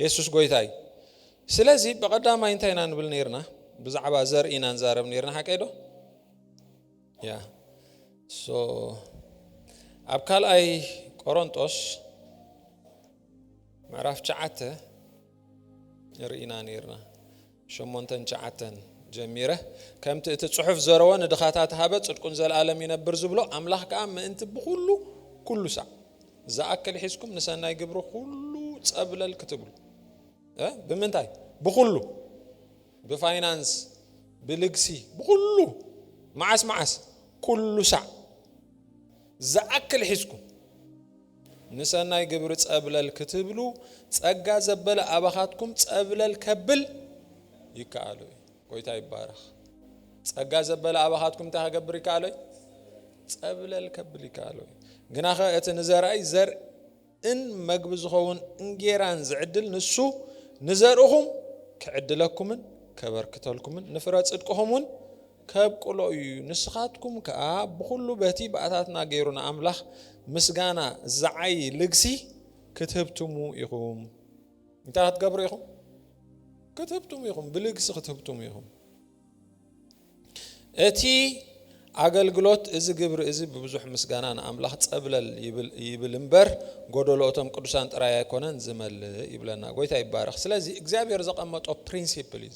የሱስ ጎይታ እዩ ስለዚ ብቀዳማይ እንታይ ኢና ንብል ነርና ብዛዕባ ዘር ኢና ንዛረብ ነርና ሓቀይ ዶ ያ ሶ ኣብ ካልኣይ ቆሮንጦስ ምዕራፍ ሸዓተ ርኢና ነርና ሸሞንተን ትሽዓተን ጀሚረ ከምቲ እቲ ጽሑፍ ዘረወ ንድኻታት ሃበ ጽድቁን ዘልኣለም ይነብር ዝብሎ ኣምላኽ ከኣ ምእንቲ ብኹሉ ኩሉ ሳዕ ዝኣክል ሒዝኩም ንሰናይ ግብሪ ኩሉ ጸብለል ክትብሉ ብምንታይ ብኹሉ ብፋይናንስ ብልግሲ ብኹሉ መዓስ መዓስ ኩሉ ሳዕ ዝኣክል ሒዝኩም ንሰናይ ግብሪ ጸብለል ክትብሉ ጸጋ ዘበለ ኣባኻትኩም ጸብለል ከብል ይከኣሎ እዩ። ጎይታ ይባረኽ። ጸጋ ዘበለ ኣባኻትኩም እንታይ ከገብር ይከኣሎ እዩ? ጸብለል ከብል ይከኣሎ እዩ። ግናኸ እቲ ንዘርኣይ ዘርእን መግቢ ዝኸውን እንጌራን ዝዕድል ንሱ ንዘርእኹም ክዕድለኩምን ከበርክተልኩምን ንፍረ ጽድቅኹም እውን ከብቅሎ እዩ ንስኻትኩም ከኣ ብኹሉ በቲ ብኣታትና ገይሩ ንኣምላኽ ምስጋና ዝዓዪ ልግሲ ክትህብትሙ ኢኹም እንታይ ክትገብሩ ኢኹም ክትህብትሙ ኢኹም ብልግሲ ክትህብትሙ ኢኹም እቲ ኣገልግሎት እዚ ግብሪ እዚ ብብዙሕ ምስጋና ንኣምላኽ ጸብለል ይብል እምበር ጎደሎ እቶም ቅዱሳን ጥራይ ኣይኮነን ዝመልእ ይብለና ጎይታ ይባረኽ ስለዚ እግዚኣብሔር ዘቐመጦ ፕሪንሲፕል እዩ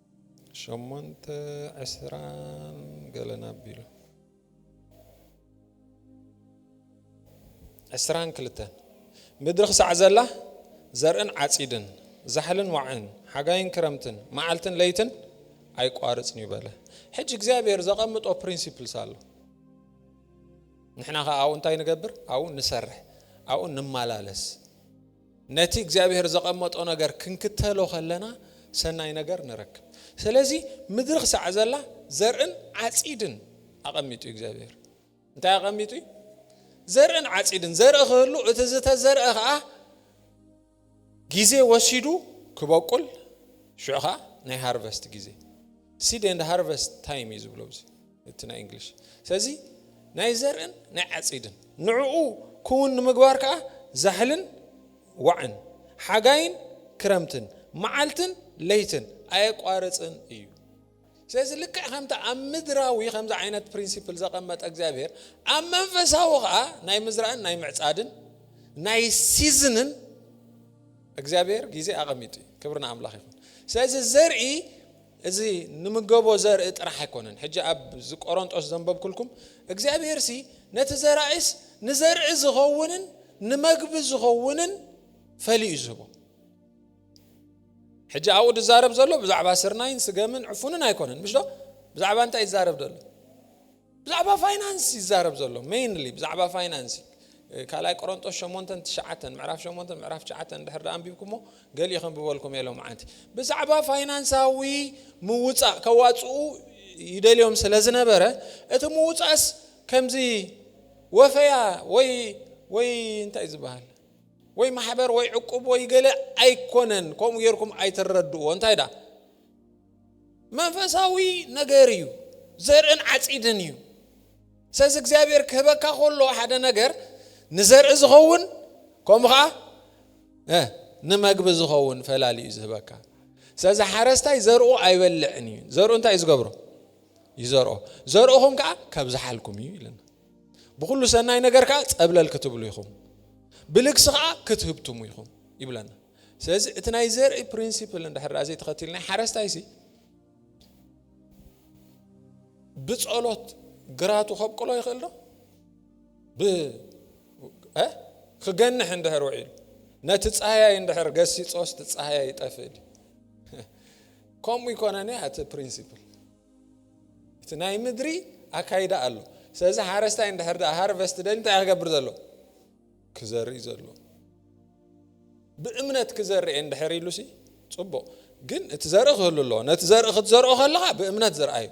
ሸሞንተ ዕስራን ገለን ኣቢሉ ዕስራን ክልተን ምድሪ ክሳዕ ዘላ ዘርእን ዓጺድን ዛሕልን ዋዕን ሓጋይን ክረምትን መዓልትን ለይትን ኣይቋርጽን እዩ በለ ሕጂ እግዚኣብሔር ዘቐምጦ ፕሪንሲፕልስ ኣሎ ንሕና ከ ኣብኡ እንታይ ንገብር ኣብኡ ንሰርሕ ኣብኡ ንመላለስ ነቲ እግዚኣብሄር ዘቐመጦ ነገር ክንክተሎ ከለና ሰናይ ነገር ንረክብ። ስለዚ ምድሪ ክሳዕ ዘላ ዘርእን ዓጺድን ኣቐሚጡ እዩ እግዚኣብሄር። እንታይ ኣቐሚጡ እዩ? ዘርእን ዓጺድን። ዘርኢ ክህሉ እቲ ዝተዘርአ ከኣ ግዜ ወሲዱ ክበቁል ሽዑ ከኣ ናይ ሃርቨስት ግዜ ሲድ ኤንድ ሃርቨስት ታይም እዩ ዝብሎ። እቲ ናይ እንግሊሽ ስለዚ ናይ ዘርእን ናይ ዓፂድን ንዕኡ ክውን ንምግባር ከዓ ዛሕልን ዋዕን ሓጋይን ክረምትን መዓልትን ለይትን ኣየቋርፅን እዩ ስለዚ ልክዕ ከምቲ ኣብ ምድራዊ ከምዚ ዓይነት ፕሪንሲፕል ዘቐመጠ እግዚኣብሔር ኣብ መንፈሳዊ ከዓ ናይ ምዝራእን ናይ ምዕፃድን ናይ ሲዝንን እግዚኣብሔር ግዜ ኣቐሚጡ እዩ ክብሪ ንኣምላኽ ይኹን ስለዚ ዘርኢ እዚ ንምገቦ ዘርኢ ጥራሕ ኣይኮነን ሕጂ ኣብ ዝቆሮንጦስ ዘንበብኩልኩም እግዚኣብሄርሲ ነቲ ዘራኢስ ንዘርኢ ዝኸውንን ንመግቢ ዝኸውንን ፈልዩ እዩ ዝህቦ ሕጂ ኣብኡ ዝዛረብ ዘሎ ብዛዕባ ስርናይን ስገምን ዕፉንን ኣይኮነን ምሽዶ ብዛዕባ እንታይ ይዛረብ ዘሎ ብዛዕባ ፋይናንስ ይዛረብ ዘሎ ሜይንሊ ብዛዕባ ፋይናንስ ካልኣይ ቆሮንጦስ ሸሞንተን ትሽዓተን ምዕራፍ ሸሞንተን ምዕራፍ ትሽዓተን እንድሕር ዳኣ ኣንቢብኩሞ ገሊኡ ከንብበልኩም እየ ሎምዓንቲ ብዛዕባ ፋይናንሳዊ ምውፃእ ከዋፅኡ ይደልዮም ስለ ዝነበረ እቲ ምውፃእስ ከምዚ ወፈያ ወይ ወይ እንታይ ዝበሃል ወይ ማሕበር ወይ ዕቁብ ወይ ገለ ኣይኮነን ከምኡ ጌርኩም ኣይትረድእዎ እንታይ ዳ መንፈሳዊ ነገር እዩ ዘርእን ዓጺድን እዩ ሰዚ እግዚኣብሔር ክህበካ ከሎ ሓደ ነገር ንዘርኢ ዝኸውን ከምኡ ከዓ ንመግቢ ዝኸውን ፈላሊ እዩ ዝህበካ ሰዚ ሓረስታይ ዘርኡ ኣይበልዕን እዩ ዘርኡ እንታይ እዩ ዝገብሮ ይዘርኦ ዘርእኹም ከዓ ካብ ዝሓልኩም እዩ ኢለና ብኩሉ ሰናይ ነገር ከዓ ፀብለል ክትብሉ ኢኹም ብልግሲ ከዓ ክትህብትሙ ኢኹም ይብለና ስለዚ እቲ ናይ ዘርኢ ፕሪንሲፕል እንድሕር ደኣ ዘይተኸቲልና ሓረስታይሲ ብጸሎት ግራቱ ከብቅሎ ይኽእል ዶ ክገንሕ እንድሕር ውዒሉ ነቲ ጻህያይ እንድሕር ገሲጾስ እቲ ጻህያይ ይጠፍእ ከምኡ ይኮነኒ እቲ ፕሪንሲፕል እቲ ናይ ምድሪ ኣካይዳ ኣሎ ስለዚ ሓረስታይ እንድሕር ደኣ ሃርቨስት ደሊ እንታይ ክገብር ዘሎ ክዘርኢ ዘሎ ብእምነት ክዘርኤ እንድሕር ኢሉሲ ጽቡቕ ግን እቲ ዘርኢ ክህሉ ኣለዎ ነቲ ዘርኢ ክትዘርኦ ከለኻ ብእምነት ዝርኣዩ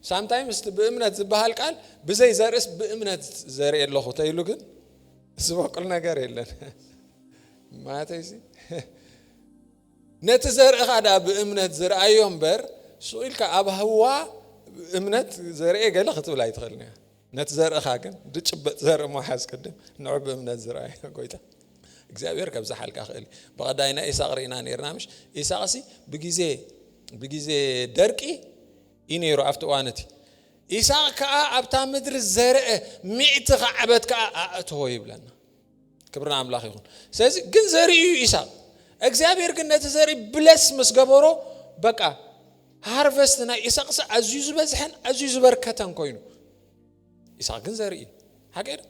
ሳምታይምስ እቲ ብእምነት ዝበሃል ቃል ብዘይ ዘርእስ ብእምነት ዘርኢ ኣለኹ ተይሉ ግን ዝበቁል ነገር የለን ማለተይሲ ነቲ ዘርእኻ ድኣ ብእምነት ዝርኣዮ እምበር ስኢልካ ኣብ ህዋ እምነት ዘርኤ ገለ ክትብል ኣይትኽእልን እያ ነቲ ዘርእኻ ግን ድጭበጥ ዘርኢ ምሓዝ ቅድም ንዑ ብእምነት ዝረኣየ ጎይታ እግዚኣብሔር ከብዝሓልካ ክእል ብቐዳይ ናይ ኢሳቅ ርኢና ነርና ምሽ ኢሳቅ ሲ ብግዜ ብግዜ ደርቂ እዩ ነይሩ ኣብቲ እዋን እቲ ኢሳቅ ከዓ ኣብታ ምድሪ ዘርአ ሚእቲ ከዓበት ከዓ ኣእተዎ ይብለና ክብሪ ንኣምላኽ ይኹን ስለዚ ግን ዘርኢ እዩ ኢሳቅ እግዚኣብሔር ግን ነቲ ዘርኢ ብለስ ምስ ገበሮ በቃ ሃርቨስት ናይ ኢሳቅሲ ኣዝዩ ዝበዝሐን ኣዝዩ ዝበርከተን ኮይኑ ኢሳቅ ግን ዘርኢ እዩ ሓቂ ዶ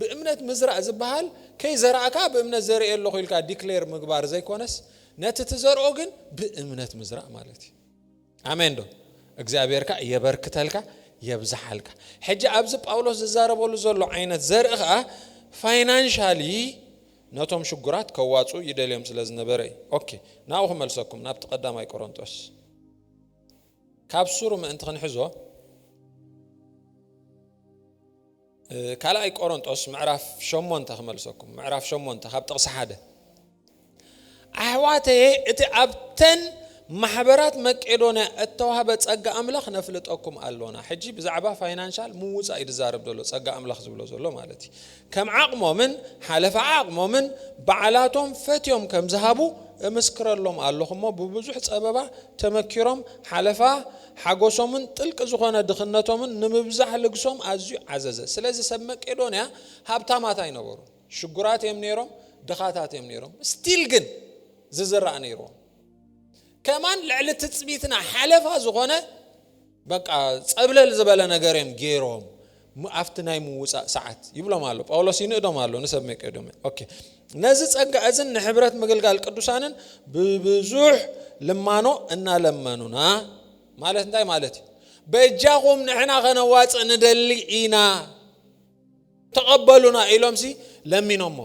ብእምነት ምዝራእ ዝበሃል ከይዘራእካ ብእምነት ዘርኢ ኣለኹ ኢልካ ዲክሌር ምግባር ዘይኮነስ ነቲ ትዘርኦ ግን ብእምነት ምዝራእ ማለት እዩ ኣሜን ዶ እግዚኣብሔር ከኣ የበርክተልካ የብዝሓልካ ሕጂ ኣብዚ ጳውሎስ ዝዛረበሉ ዘሎ ዓይነት ዘርኢ ከኣ ፋይናንሻሊ ነቶም ሽጉራት ከዋጽኡ ይደልዮም ስለ ዝነበረ እዩ ኦኬ ናብኡ ክመልሰኩም ናብቲ ቀዳማይ ቆሮንጦስ ካብ ሱሩ ምእንቲ ክንሕዞ ካልኣይ ቆሮንጦስ ምዕራፍ ሸሞንተ ክመልሰኩም ምዕራፍ ሸሞንተ ካብ ጥቕሲ ሓደ ኣሕዋተየ እቲ ኣብተን ማሕበራት መቄዶንያ እተዋህበ ጸጋ ኣምላኽ ነፍልጠኩም ኣሎና ሕጂ ብዛዕባ ፋይናንሻል ምውጻእ እዩ ዝዛረብ ዘሎ ጸጋ ኣምላኽ ዝብሎ ዘሎ ማለት እዩ ከም ዓቕሞምን ሓለፋ ዓቕሞምን በዓላቶም ፈትዮም ከም ዝሃቡ እምስክረሎም ኣለኹ እሞ ብብዙሕ ጸበባ ተመኪሮም ሓለፋ ሓጐሶምን ጥልቂ ዝዀነ ድኽነቶምን ንምብዛሕ ልግሶም ኣዝዩ ዓዘዘ። ስለዚ፣ ሰብ መቄዶንያ ሃብታማት ኣይነበሩን። ሽጉራት እዮም ነይሮም፣ ድኻታት እዮም ነይሮም። ስቲል ግን ዝዝራእ ነይርዎም። ከማን ልዕሊ ትጽቢትና ሓለፋ ዝዀነ በቃ ጸብለል ዝበለ ነገር እዮም ገይሮም። እሞ ኣብቲ ናይ ምውጻእ ሰዓት ይብሎም ኣሎ ጳውሎስ ይንእዶም ኣሎ ንሰብ መቄዶንያ ኦኬ ነዚ ጸጋ እዝን ንሕብረት ምግልጋል ቅዱሳንን ብብዙሕ ልማኖ እናለመኑና ማለት እንታይ ማለት እዩ በጃኹም ንሕና ከነዋጽእ ንደሊ ኢና ተቐበሉና ኢሎምሲ ለሚኖሞ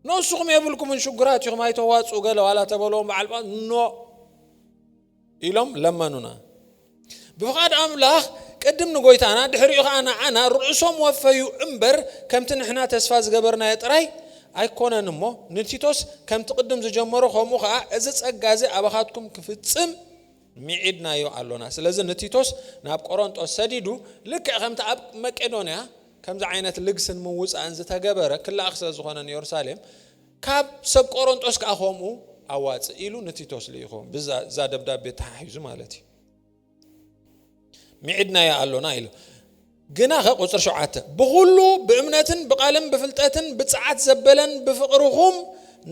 ንስኹም የብልኩምን ሽጉራት ኢኹም ኣይተዋጽኡ ገለ ዋላ ተበለዎም በዓል ኖ ኢሎም ለመኑና። ብፍቓድ ኣምላኽ ቅድም ንጎይታና ድሕሪኡ ኸኣ ንዓና ርእሶም ወፈዩ እምበር ከምቲ ንሕና ተስፋ ዝገበርናዮ ጥራይ ኣይኰነን እሞ ንቲቶስ ከምቲ ቅድም ዝጀመሮ ከምኡ ኸኣ እዚ ጸጋ እዚ ኣባኻትኩም ክፍጽም ሚዒድናዮ ኣሎና። ስለዚ ንቲቶስ ናብ ቆሮንጦስ ሰዲዱ ልክዕ ከምቲ ኣብ መቄዶንያ ከምዚ ዓይነት ልግስን ምውጻእን ዝተገበረ ክለኣኽ ስለ ዝዀነ ንዮርሳሌም ካብ ሰብ ቆሮንጦስ ከኣ ከምኡ ኣዋጽእ ኢሉ ንቲቶስ ልኢኾ፣ ብዛ ደብዳቤ ተሓሒዙ ማለት እዩ። ሚዒድናያ ኣሎና ኢሉ። ግናኸ ቁጽሪ ሸውዓተ ብኹሉ ብእምነትን ብቓልን ብፍልጠትን ብጽዓት ዘበለን ብፍቕርኹም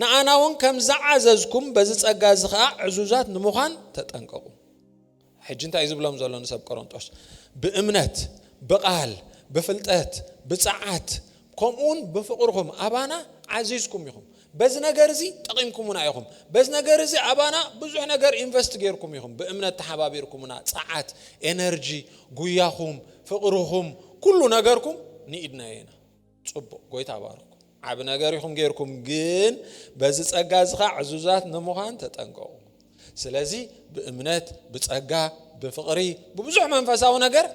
ንኣናውን ከም ዝዓዘዝኩም በዚ ጸጋ እዚ ኸኣ ዕዙዛት ንምዃን ተጠንቀቑ። ሕጂ እንታይ እዩ ዝብሎም ዘሎ ንሰብ ቆሮንጦስ? ብእምነት፣ ብቓል፣ ብፍልጠት፣ ብጸዓት፣ ከምኡውን ብፍቕርኹም ኣባና ዓዚዝኩም ኢኹም። በዚ ነገር እዚ ጠቒምኩምና ኢኹም። በዚ ነገር እዚ ኣባና ብዙሕ ነገር ኢንቨስት ጌርኩም ኢኹም። ብእምነት ተሓባቢርኩምና፣ ጸዓት፣ ኤነርጂ፣ ጉያኹም፣ ፍቕርኹም፣ ኩሉ ነገርኩም ንኢድናዮ ኢና። ጽቡቅ ጎይታ ባርኩም ዓቢ ነገር ኢኹም ጌርኩም ግን በዚ ጸጋ እዚ ኸዓ ዕዙዛት ንምዃን ተጠንቀቑ ስለዚ ብእምነት ብጸጋ ብፍቕሪ ብብዙሕ መንፈሳዊ ነገር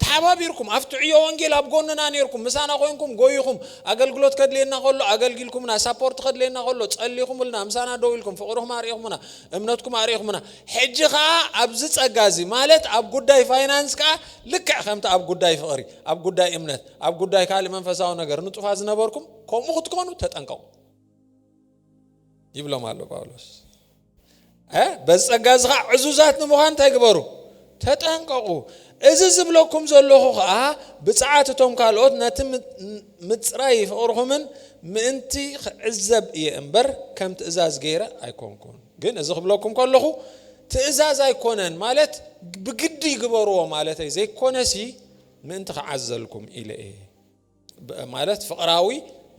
ተሓባቢርኩም ኣብቲ ዕዮ ወንጌል ኣብ ጎንና ነርኩም ምሳና ኮንኩም ጎይኹም ኣገልግሎት ከድልየና ከሎ ኣገልጊልኩምና ሳፖርት ከድልየና ከሎ ጸሊኹምልና ምሳና ደው ኢልኩም ፍቕርኹም ኣርእኹምና እምነትኩም ኣርእኹምና ሕጂ ከዓ ኣብዚ ጸጋ እዚ ማለት ኣብ ጉዳይ ፋይናንስ ከዓ ልክዕ ከምቲ ኣብ ጉዳይ ፍቕሪ ኣብ ጉዳይ እምነት ኣብ ጉዳይ ካልእ መንፈሳዊ ነገር ንጡፋት ዝነበርኩም ከምኡ ክትኮኑ ተጠንቀቑ ይብሎም ኣሎ ጳውሎስ። በዚ ጸጋ እዚ ከዓ ዕዙዛት ንምዃን እንታይ ግበሩ ተጠንቀቑ። እዚ ዝብለኩም ዘለኹ ከዓ ብፅዓት እቶም ካልኦት ነቲ ምፅራይ ፍቕርኹምን ምእንቲ ክዕዘብ እየ እምበር ከም ትእዛዝ ገይረ ኣይኮንኩን። ግን እዚ ክብለኩም ከለኹ ትእዛዝ ኣይኮነን ማለት ብግዲ ይግበርዎ ማለተይ ዘይኮነሲ ምእንቲ ክዓዘልኩም ኢለ እየ ማለት ፍቕራዊ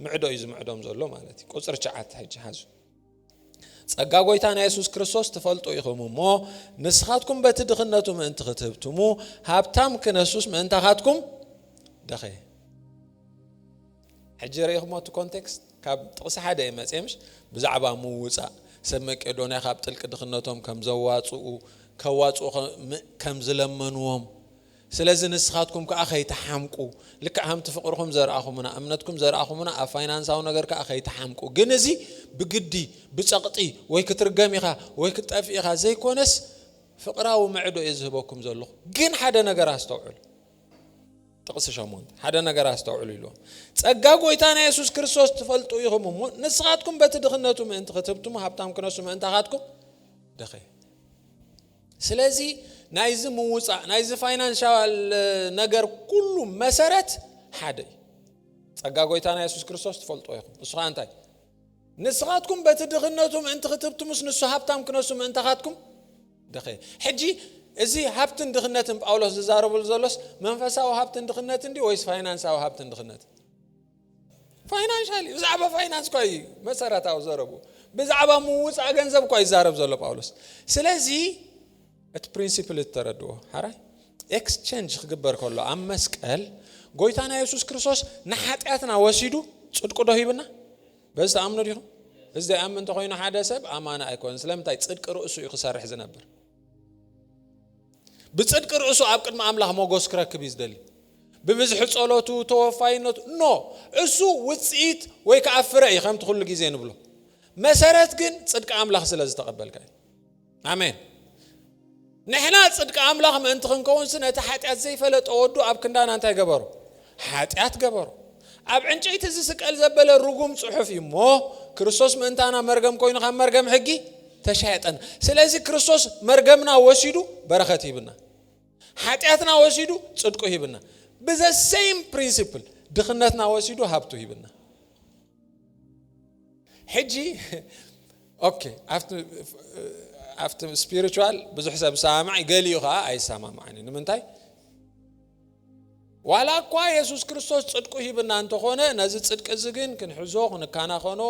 ምዕዶ እዩ ዝምዕዶም ዘሎ ማለት እዩ ቁፅሪ ሸዓተ ሕጂ ሓዙ ጸጋ ጎይታና የሱስ ክርስቶስ ትፈልጡ ኢኹም እሞ ንስኻትኩም በቲ ድኽነቱ ምእንቲ ክትህብትሙ ሃብታም ክነሱስ ምእንታኻትኩም ደኸየ ሕጂ ርኢኹሞ እቲ ኮንቴክስት ካብ ጥቕሲ ሓደ እዩ መፅኤ ምሽ ብዛዕባ ምውፃእ ሰብ መቄዶንያ ካብ ጥልቂ ድኽነቶም ከም ዘዋፅኡ ከዋፅኡ ከም ዝለመንዎም ስለዚ ንስኻትኩም ከኣ ከይትሓምቁ፣ ልክዕ ከምቲ ፍቕርኹም ዘርኣኹምና፣ እምነትኩም ዘርኣኹምና፣ ኣብ ፋይናንሳዊ ነገር ከኣ ከይትሓምቁ፣ ግን እዚ ብግዲ፣ ብጸቕጢ፣ ወይ ክትርገም ኢኻ ወይ ክትጠፍእ ኢኻ ዘይኮነስ፣ ፍቕራዊ ምዕዶ እየ ዝህበኩም ዘለኹ። ግን ሓደ ነገር ኣስተውዕሉ። ጥቕሲ ሸሞንተ፣ ሓደ ነገር ኣስተውዕሉ ኢልዎም፣ ጸጋ ጐይታና የሱስ ክርስቶስ ትፈልጡ ኢኹም እሞ፣ ንስኻትኩም በቲ ድኽነቱ ምእንቲ ክትህብትሙ ሃብታም ክነሱ ምእንታኻትኩም ደኸየ። ስለዚ ናይዚ ምውፃእ ናይዚ ፋይናንሻል ነገር ኩሉ መሰረት ሓደ እዩ ጸጋ ጎይታና የሱስ ክርስቶስ ትፈልጦ ኢኹም ንሱ ከዓ እንታይ ንስኻትኩም በቲ ድኽነቱ ምእንቲ ክትብትሙስ ንሱ ሃብታም ክነሱ ምእንታኻትኩም ድኸ ሕጂ እዚ ሃብትን ድኽነትን ጳውሎስ ዝዛረብሉ ዘሎስ መንፈሳዊ ሃብትን ድኽነትን ድዩ ወይስ ፋይናንሳዊ ሃብትን ድኽነትን ፋይናንሻል እዩ ብዛዕባ ፋይናንስ እኳ እዩ መሰረታዊ ዘረቡ ብዛዕባ ምውፃእ ገንዘብ እኳ ይዛረብ ዘሎ ጳውሎስ ስለዚ እቲ ፕሪንሲፕል እተረድዎ ሓራይ ኤክስቸንጅ ክግበር ከሎ ኣብ መስቀል ጎይታና የሱስ ክርስቶስ ንሓጢኣትና ወሲዱ ፅድቁ ዶ ሂብና በዚ ተኣምኑ ዲኹም እዚ ዘይኣምን እንተኮይኑ ሓደ ሰብ ኣማና ኣይኮነን ስለምንታይ ፅድቂ ርእሱ እዩ ክሰርሕ ዝነብር ብጽድቂ ርእሱ ኣብ ቅድሚ ኣምላኽ ሞገስ ክረክብ እዩ ዝደሊ ብብዝሒ ጸሎቱ ተወፋይነቱ ኖ እሱ ውጽኢት ወይ ከዓ ፍረ እዩ ከምቲ ኩሉ ግዜ ንብሎ መሰረት ግን ጽድቂ ኣምላኽ ስለ ዝተቐበልካ እዩ ኣሜን ንሕና ጽድቂ ኣምላኽ ምእንቲ ክንከውንሲ ነቲ ሓጢኣት ዘይፈለጠ ወዱ ኣብ ክንዳና እንታይ ገበሩ ሓጢኣት ገበሩ። ኣብ ዕንጨይቲ ዝስቀል ዘበለ ርጉም ጽሑፍ እዩ እሞ ክርስቶስ ምእንታና መርገም ኮይኑ ካብ መርገም ሕጊ ተሻየጠና። ስለዚ ክርስቶስ መርገምና ወሲዱ በረኸት ሂብና፣ ሓጢኣትና ወሲዱ ጽድቁ ሂብና፣ ብዘ ሰይም ፕሪንሲፕል ድኽነትና ወሲዱ ሃብቱ ሂብና። ሕጂ ኦኬ ኣብቲ ስፒሪቹዋል ብዙሕ ሰብ ሰማማዕ ገሊኡ ከዓ ኣይሰማማዕን እዩ ንምንታይ ዋላኳ የሱስ ክርስቶስ ጽድቁ ሂብና እንተኾነ ነዚ ጽድቂ እዚ ግን ክንሕዞ ክንካናኸኖ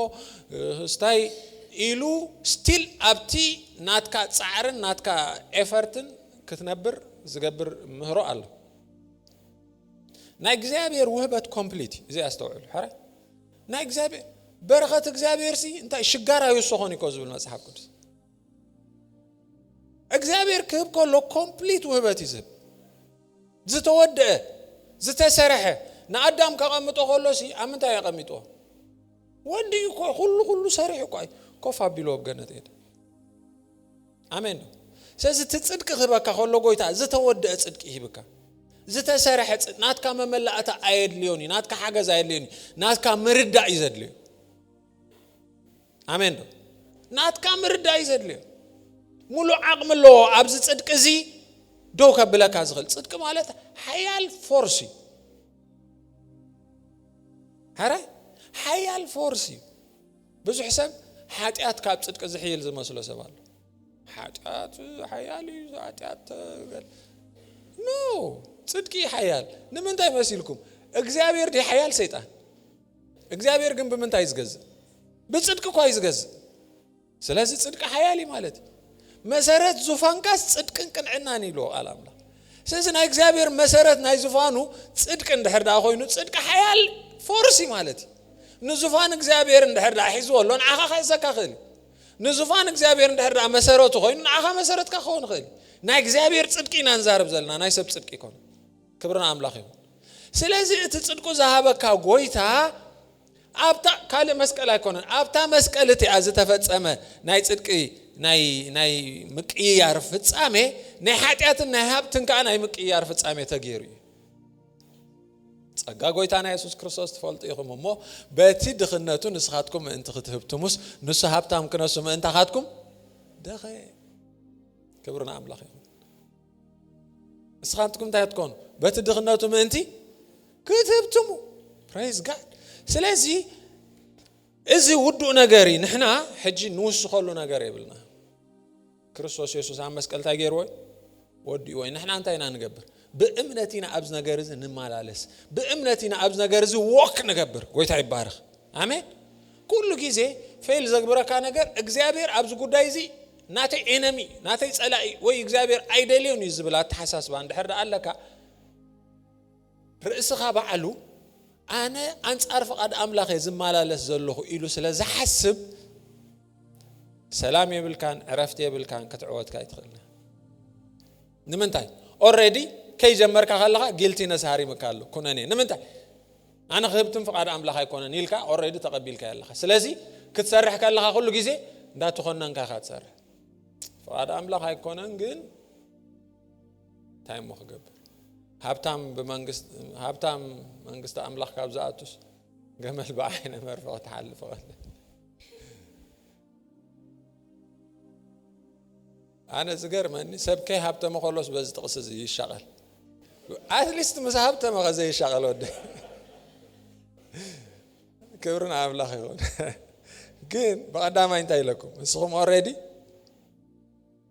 ስታይ ኢሉ ስቲል ኣብቲ ናትካ ጻዕርን ናትካ ኤፈርትን ክትነብር ዝገብር ምህሮ ኣሎ። ናይ እግዚኣብሔር ውህበት ኮምፕሊት እዩ እዚ ኣስተውዕሉ ሕራይ ናይ እግዚኣብሔር በረኸት እግዚኣብሔር ሲ እንታይ ሽጋር ኣይውሰኾን እኮ ዝብል መጽሓፍ ቅዱስ እግዚኣብሔር ክህብ ከሎ ኮምፕሊት ውህበት እዩ ዝህብ ዝተወደአ ዝተሰረሐ ንኣዳም ከቐምጦ ከሎ ሲ ኣብ ምንታይ የቐሚጦ ወዲ እዩ እኮ ኩሉ ኩሉ ሰሪሑ እኳ እዩ ኮፍ ኣቢሉ ኣብ ገነት ሄደ ኣሜን ስለዚ እቲ ፅድቂ ክህበካ ከሎ ጎይታ ዝተወደአ ፅድቂ ይህብካ ዝተሰረሐ ናትካ መመላእታ ኣየድልዮን እዩ ናትካ ሓገዝ ኣየድልዮን እዩ ናትካ ምርዳእ እዩ ዘድልዮ ኣሜን ዶ ናትካ ምርዳእ እዩ ዘድልዮ ሙሉእ ዓቕሚ ኣለዎ ኣብዚ ፅድቂ እዚ ደው ከብለካ ዝኽእል ፅድቂ ማለት ሓያል ፎርስ እዩ ሓራይ ሓያል ፎርስ እዩ ብዙሕ ሰብ ሓጢኣት ካብ ፅድቂ ዝሕይል ዝመስሎ ሰብ ኣሎ ሓጢኣት ሓያል እዩ ሓጢኣት ኖ ፅድቂ ሓያል ንምንታይ መሲልኩም እግዚኣብሔር ዲ ሓያል ሰይጣን እግዚኣብሔር ግን ብምንታይ እዩ ዝገዝእ? ብፅድቂ እኳ እዩ ዝገዝእ። ስለዚ ፅድቂ ሓያል እዩ ማለት እዩ። መሰረት ዙፋንካስ ፅድቅን ቅንዕናን ኢሉ ቃል ኣምላኽ ስለዚ ናይ እግዚኣብሔር መሰረት ናይ ዝፋኑ ፅድቂ እንድሕር ዳኣ ኮይኑ ፅድቂ ሓያል ፎርሲ ማለት እዩ ንዙፋን እግዚኣብሔር እንድሕር ዳኣ ሒዝዎ ኣሎ ንዓኻ ክሕዘካ ክእል ንዙፋን እግዚኣብሔር እንድሕር ዳኣ መሰረቱ ኮይኑ ንዓኻ መሰረትካ ክኸውን ይኽእል ናይ እግዚኣብሔር ፅድቂ ኢና ንዛረብ ዘለና ናይ ሰብ ፅድቂ ይኮነ ክብሪ ንኣምላኽ ይኹን ስለዚ እቲ ጽድቁ ዝሃበካ ጎይታ ኣብታ ካልእ መስቀል ኣይኮነን ኣብታ መስቀል እቲኣ ዝተፈጸመ ናይ ጽድቂ ናይ ምቅይያር ፍጻሜ ናይ ሓጢኣትን ናይ ሃብትን ከዓ ናይ ምቅይያር ፍጻሜ ተገይሩ እዩ ጸጋ ጎይታና የሱስ ክርስቶስ ትፈልጡ ኢኹም እሞ በቲ ድኽነቱ ንስኻትኩም ምእንቲ ክትህብትሙስ ንሱ ሃብታም ክነሱ ምእንታኻትኩም ደኸ ክብሪ ንኣምላኽ ይኹን ንስኻትኩም እንታይ ትኮኑ በቲ ድኽነቱ ምእንቲ ክትህብትሙ ፕሬዝ ጋድ ስለዚ እዚ ውዱእ ነገር እዩ ንሕና ሕጂ ንውስኸሉ ነገር የብልና ክርስቶስ የሱስ ኣብ መስቀል እንታይ ገይርዎ ወዲእዎ እዩ ንሕና እንታይ ኢና ንገብር ብእምነት ኢና ኣብዚ ነገር እዚ ንመላለስ ብእምነት ኢና ኣብዚ ነገር እዚ ዎክ ንገብር ጎይታ ይባረኽ ኣሜን ኩሉ ግዜ ፌል ዘግብረካ ነገር እግዚኣብሔር ኣብዚ ጉዳይ እዚ ናተይ ኤነሚ፣ ናተይ ጸላኢ ወይ እግዚኣብሔር ኣይደልዮን እዩ ዝብል ኣተሓሳስባ እንድሕር ደኣ ኣለካ፣ ርእስኻ ባዕሉ ኣነ ኣንጻር ፍቓድ ኣምላኽ እየ ዝመላለስ ዘለኹ ኢሉ ስለ ዝሓስብ ሰላም የብልካን ዕረፍቲ የብልካን ክትዕወትካ ኣይትኽእልን። ንምንታይ ኦልሬዲ ከይጀመርካ ከለኻ ጊልቲነስ ሃሪምካ ኣሎ ኩነኔ ንምንታይ ኣነ ክህብትም ፍቃድ ኣምላኽ ኣይኮነን ኢልካ ኦረዲ ተቐቢልካ ኣለኻ ስለዚ ክትሰርሕ ከለኻ ኩሉ ግዜ እንዳተኾነንካ ኢኻ ትሰርሕ ፍቃድ ኣምላኽ ኣይኮነን ግን እንታይ እሞ ክገብር ሃብታም ብመንግስት ሃብታም መንግስቲ ኣምላኽ ካብ ዝኣቱስ ገመል ብዓይነ መርፍቕ ክትሓልፍ ቐለ ኣነ ዝገርመኒ ሰብ ከይ ሃብተመ ከሎስ በዚ ጥቅሲ እዚ ይሻቀል ኣትሊስት ምስ ሃብተመ ከ ዘይሻቀል ወዲ ክብርን ኣምላኽ ይኹን ግን ብቀዳማይ እንታይ ኢለኩም ንስኹም ኦሬዲ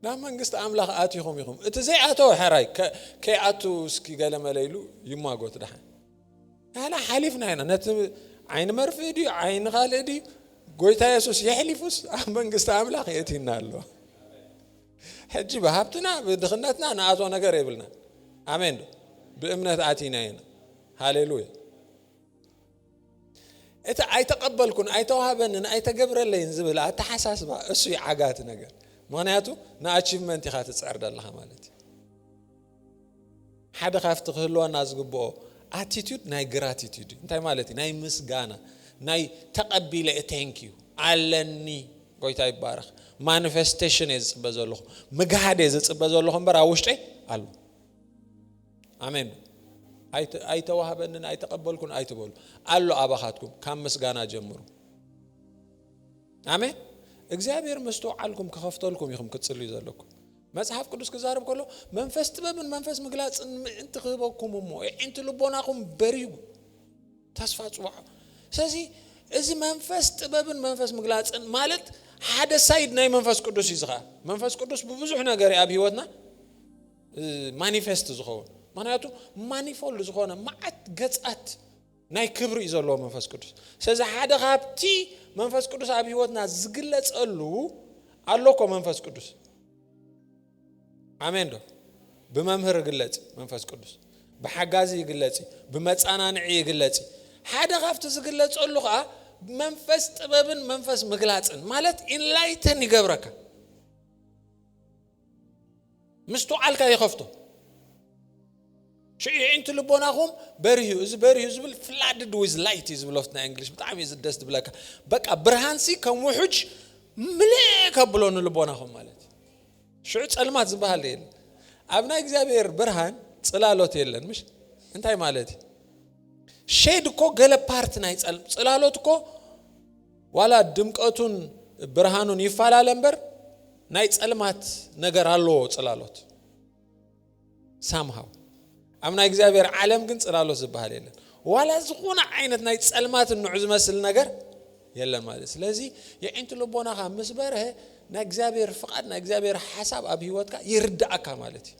ናብ መንግስቲ ኣምላኽ ኣቲኹም ኢኹም እቲ ዘይኣተወ ሕራይ ከይኣቱ እስኪ ገለመለ ኢሉ ይማጎት ድሓን ንሕና ሓሊፍና ኢና ነቲ ዓይኒ መርፍእ ድዩ ዓይኒ ካልእ ድዩ ጎይታ የሱስ የሕሊፉስ ኣብ መንግስቲ ኣምላኽ የእቲና ኣሎ ሕጂ ብሃብትና ብድኽነትና ንኣቶ ነገር የብልና ኣሜን ዶ ብእምነት ኣቲና ኢና ሃሌሉያ እቲ ኣይተቐበልኩን ኣይተዋህበንን ኣይተገብረለይን ዝብል ኣተሓሳስባ እሱ ዓጋቲ ነገር ምክንያቱ ንኣቺቭመንት ኢኻ ትፅዕር ደለኻ ማለት እዩ ሓደ ካብቲ ክህልወና ዝግብኦ ኣቲቱድ ናይ ግራቲቱድ እዩ እንታይ ማለት እዩ ናይ ምስጋና ናይ ተቐቢለ ዩ ቴንክ ዩ ኣለኒ ጎይታ ይባረኽ ማኒፌስቴሽን እየ ዝፅበ ዘለኹ ምግሃድ እየ ዝፅበ ዘለኹ እምበር ኣብ ውሽጠይ ኣሎ ኣሜን ኣይተዋህበንን ኣይተቐበልኩን ኣይትበሉ ኣሎ ኣባኻትኩም ካብ ምስጋና ጀምሩ ኣሜን እግዚኣብሔር መስተውዓልኩም ክኸፍተልኩም ኢኹም ክትፅልዩ ዘለኩም መጽሓፍ ቅዱስ ክዛረብ ከሎ መንፈስ ጥበብን መንፈስ ምግላጽን ምእንቲ ክህበኩም እሞ የዒንቲ ልቦናኹም በሪሁ ተስፋ ጽዋዕ ስለዚ እዚ መንፈስ ጥበብን መንፈስ ምግላጽን ማለት ሓደ ሳይድ ናይ መንፈስ ቅዱስ እዩ ዝኻ መንፈስ ቅዱስ ብብዙሕ ነገር ኣብ ህይወትና ማኒፌስት ዝኸውን ምክንያቱ ማኒፎልድ ዝኾነ መዓት ገጻት ናይ ክብሪ እዩ ዘለዎ መንፈስ ቅዱስ ስለዚ ሓደ ካብቲ መንፈስ ቅዱስ ኣብ ህይወትና ዝግለጸሉ ኣሎ እኮ መንፈስ ቅዱስ ኣሜን ዶ ብመምህር ይግለጽ መንፈስ ቅዱስ ብሓጋዚ ይግለጽ ብመጻናንዒ ይግለጽ ሓደ ካብቲ ዝግለጸሉ ከዓ መንፈስ ጥበብን መንፈስ ምግላጽን ማለት ኢንላይተን ይገብረካ ምስትውዓልካ ይኸፍቶ። ሽዑ የዒንቲ ልቦናኹም በሪሁ እዚ በሪሁ ዝብል ፍላድድ ዊዝ ላይት እዩ ዝብሎት ናይ እንግሊሽ ብጣዕሚ እዩ ደስ ዝብለካ በቃ ብርሃንሲ ከም ውሑጅ ምልእ ከብሎ ንልቦናኹም ማለት እዩ ሽዑ ጸልማት ዝበሃል የለ ኣብ ናይ እግዚኣብሔር ብርሃን ጽላሎት የለን ምሽ እንታይ ማለት እዩ ሼድ እኮ ገለ ፓርት ናይ ጸልም ጽላሎት እኮ ዋላ ድምቀቱን ብርሃኑን ይፈላለ እምበር ናይ ጸልማት ነገር ኣለዎ ጽላሎት ሳምሃው ኣብ ናይ እግዚኣብሔር ዓለም ግን ጽላሎት ዝበሃል የለን ዋላ ዝኾነ ዓይነት ናይ ጸልማት ንዑ ዝመስል ነገር የለን ማለት ስለዚ የዒንቲ ልቦናኻ ምስ በርሀ ናይ እግዚኣብሔር ፍቓድ ናይ እግዚኣብሔር ሓሳብ ኣብ ህይወትካ ይርዳእካ ማለት እዩ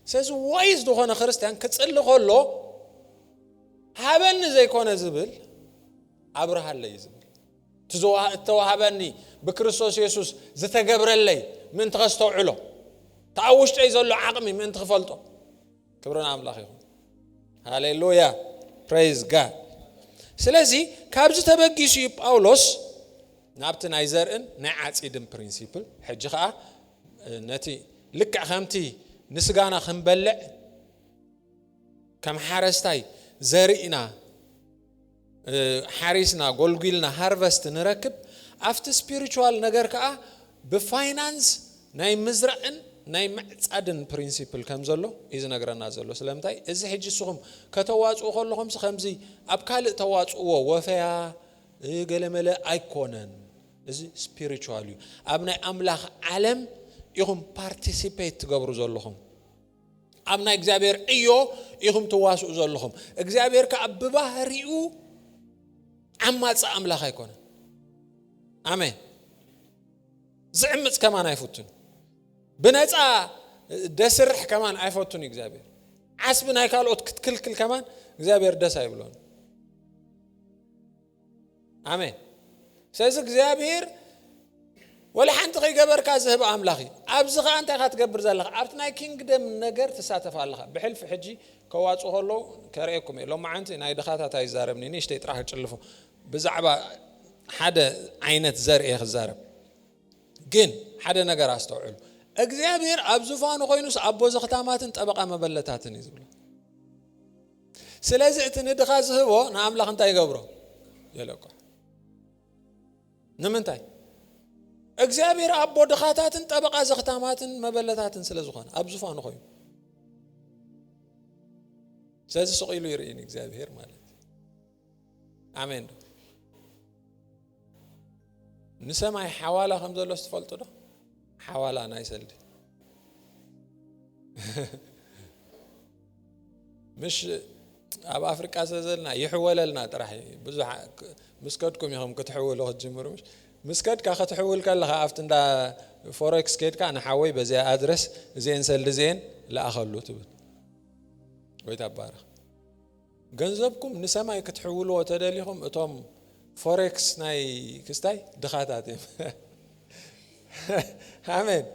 ስለዚ ዋይዝ ዝኾነ ክርስትያን ክጽሊ ከሎ ሃበኒ ዘይኮነ ዝብል ኣብርሃለይ ዝብል እቲ ዝተዋህበኒ ብክርስቶስ የሱስ ዝተገብረለይ ምእንቲ ከስተውዕሎ እቲ ኣብ ውሽጠይ ዘሎ ዓቕሚ ምእንቲ ክፈልጦ ክብሪ ንኣምላኽ ይኹን ሃሌሉያ ፕሬዝ ጋድ ስለዚ ካብዚ ተበጊሱ እዩ ጳውሎስ ናብቲ ናይ ዘርእን ናይ ዓፂድን ፕሪንሲፕል ሕጂ ከዓ ነቲ ልክዕ ከምቲ ንስጋና ክንበልዕ ከም ሓረስታይ ዘርእና ሓሪስና ጎልጒልና ሃርቨስት ንረክብ ኣብቲ ስፒሪቹዋል ነገር ከኣ ብፋይናንስ ናይ ምዝራእን ናይ ምዕጻድን ፕሪንሲፕል ከም ዘሎ እዩ ዝነግረና ዘሎ ስለምንታይ እዚ ሕጂ ንስኹም ከተዋጽኡ ከለኹምሲ ከምዚ ኣብ ካልእ ተዋጽእዎ ወፈያ ገለመለ ኣይኮነን እዚ ስፒሪቹዋል እዩ ኣብ ናይ ኣምላኽ ዓለም ኢኹም ፓርቲሲፔት ትገብሩ ዘለኹም ኣብ ናይ እግዚኣብሔር ዕዮ ኢኹም ትዋስኡ ዘለኹም እግዚኣብሔር ከዓ ብባህሪኡ ዓማፂ ኣምላኽ ኣይኮነ ኣሜን ዝዕምፅ ከማን ኣይፈቱን ብነፃ ደስርሕ ከማን ኣይፈቱን እግዚኣብሔር ዓስቢ ናይ ካልኦት ክትክልክል ከማን እግዚኣብሔር ደስ ኣይብሎን ኣሜን ስለዚ እግዚኣብሄር ወላ ሓንቲ ከይገበርካ ዝህብ ኣምላኽ እዩ ኣብዚ ከዓ እንታይ ካ ትገብር ዘለካ ኣብቲ ናይ ኪንግደም ነገር ትሳተፍ ኣለካ ብሕልፊ ሕጂ ከዋፁ ከለዉ ከርእየኩም እየ ሎማዓንቲ ናይ ድኻታት ኣይዛረብኒ ንእሽተይ ጥራሕ ክጭልፎ ብዛዕባ ሓደ ዓይነት ዘርኢ ክዛረብ ግን ሓደ ነገር ኣስተውዕሉ እግዚኣብሄር ኣብ ዙፋኑ ኮይኑስ ኣቦ ዘኽታማትን ጠበቃ መበለታትን እዩ ዝብሎ ስለዚ እቲ ንድኻ ዝህቦ ንኣምላኽ እንታይ ይገብሮ የለቆ ንምንታይ እግዚኣብሔር ኣቦ ድኻታትን ጠበቓ ዘኽታማትን መበለታትን ስለ ዝኾነ ኣብ ዝፋኑ ኮይኑ ስለዚ ስቕ ኢሉ ይርእኒ እግዚኣብሔር ማለት ኣሜን ዶ ንሰማይ ሓዋላ ከም ዘሎ ስትፈልጡ ዶ ሓዋላ ናይ ሰልዲ ምሽ ኣብ ኣፍሪቃ ስለ ዘለና ይሕወለልና ጥራሕ ብዙ ምስ ከድኩም ኢኹም ክትሕውሉ ክትጅምሩ ምሽ ምስ ከድካ ክትሕውል ከለኻ ኣብቲ እንዳ ፎሬክስ ከድካ ንሓወይ በዚኣ ኣድረስ እዚኤን ሰልዲ እዚኤን ለኣኸሉ ትብል ወይ ታባረኽ ገንዘብኩም ንሰማይ ክትሕውልዎ ተደሊኹም እቶም ፎሬክስ ናይ ክስታይ ድኻታት እዮም። ኣሜን።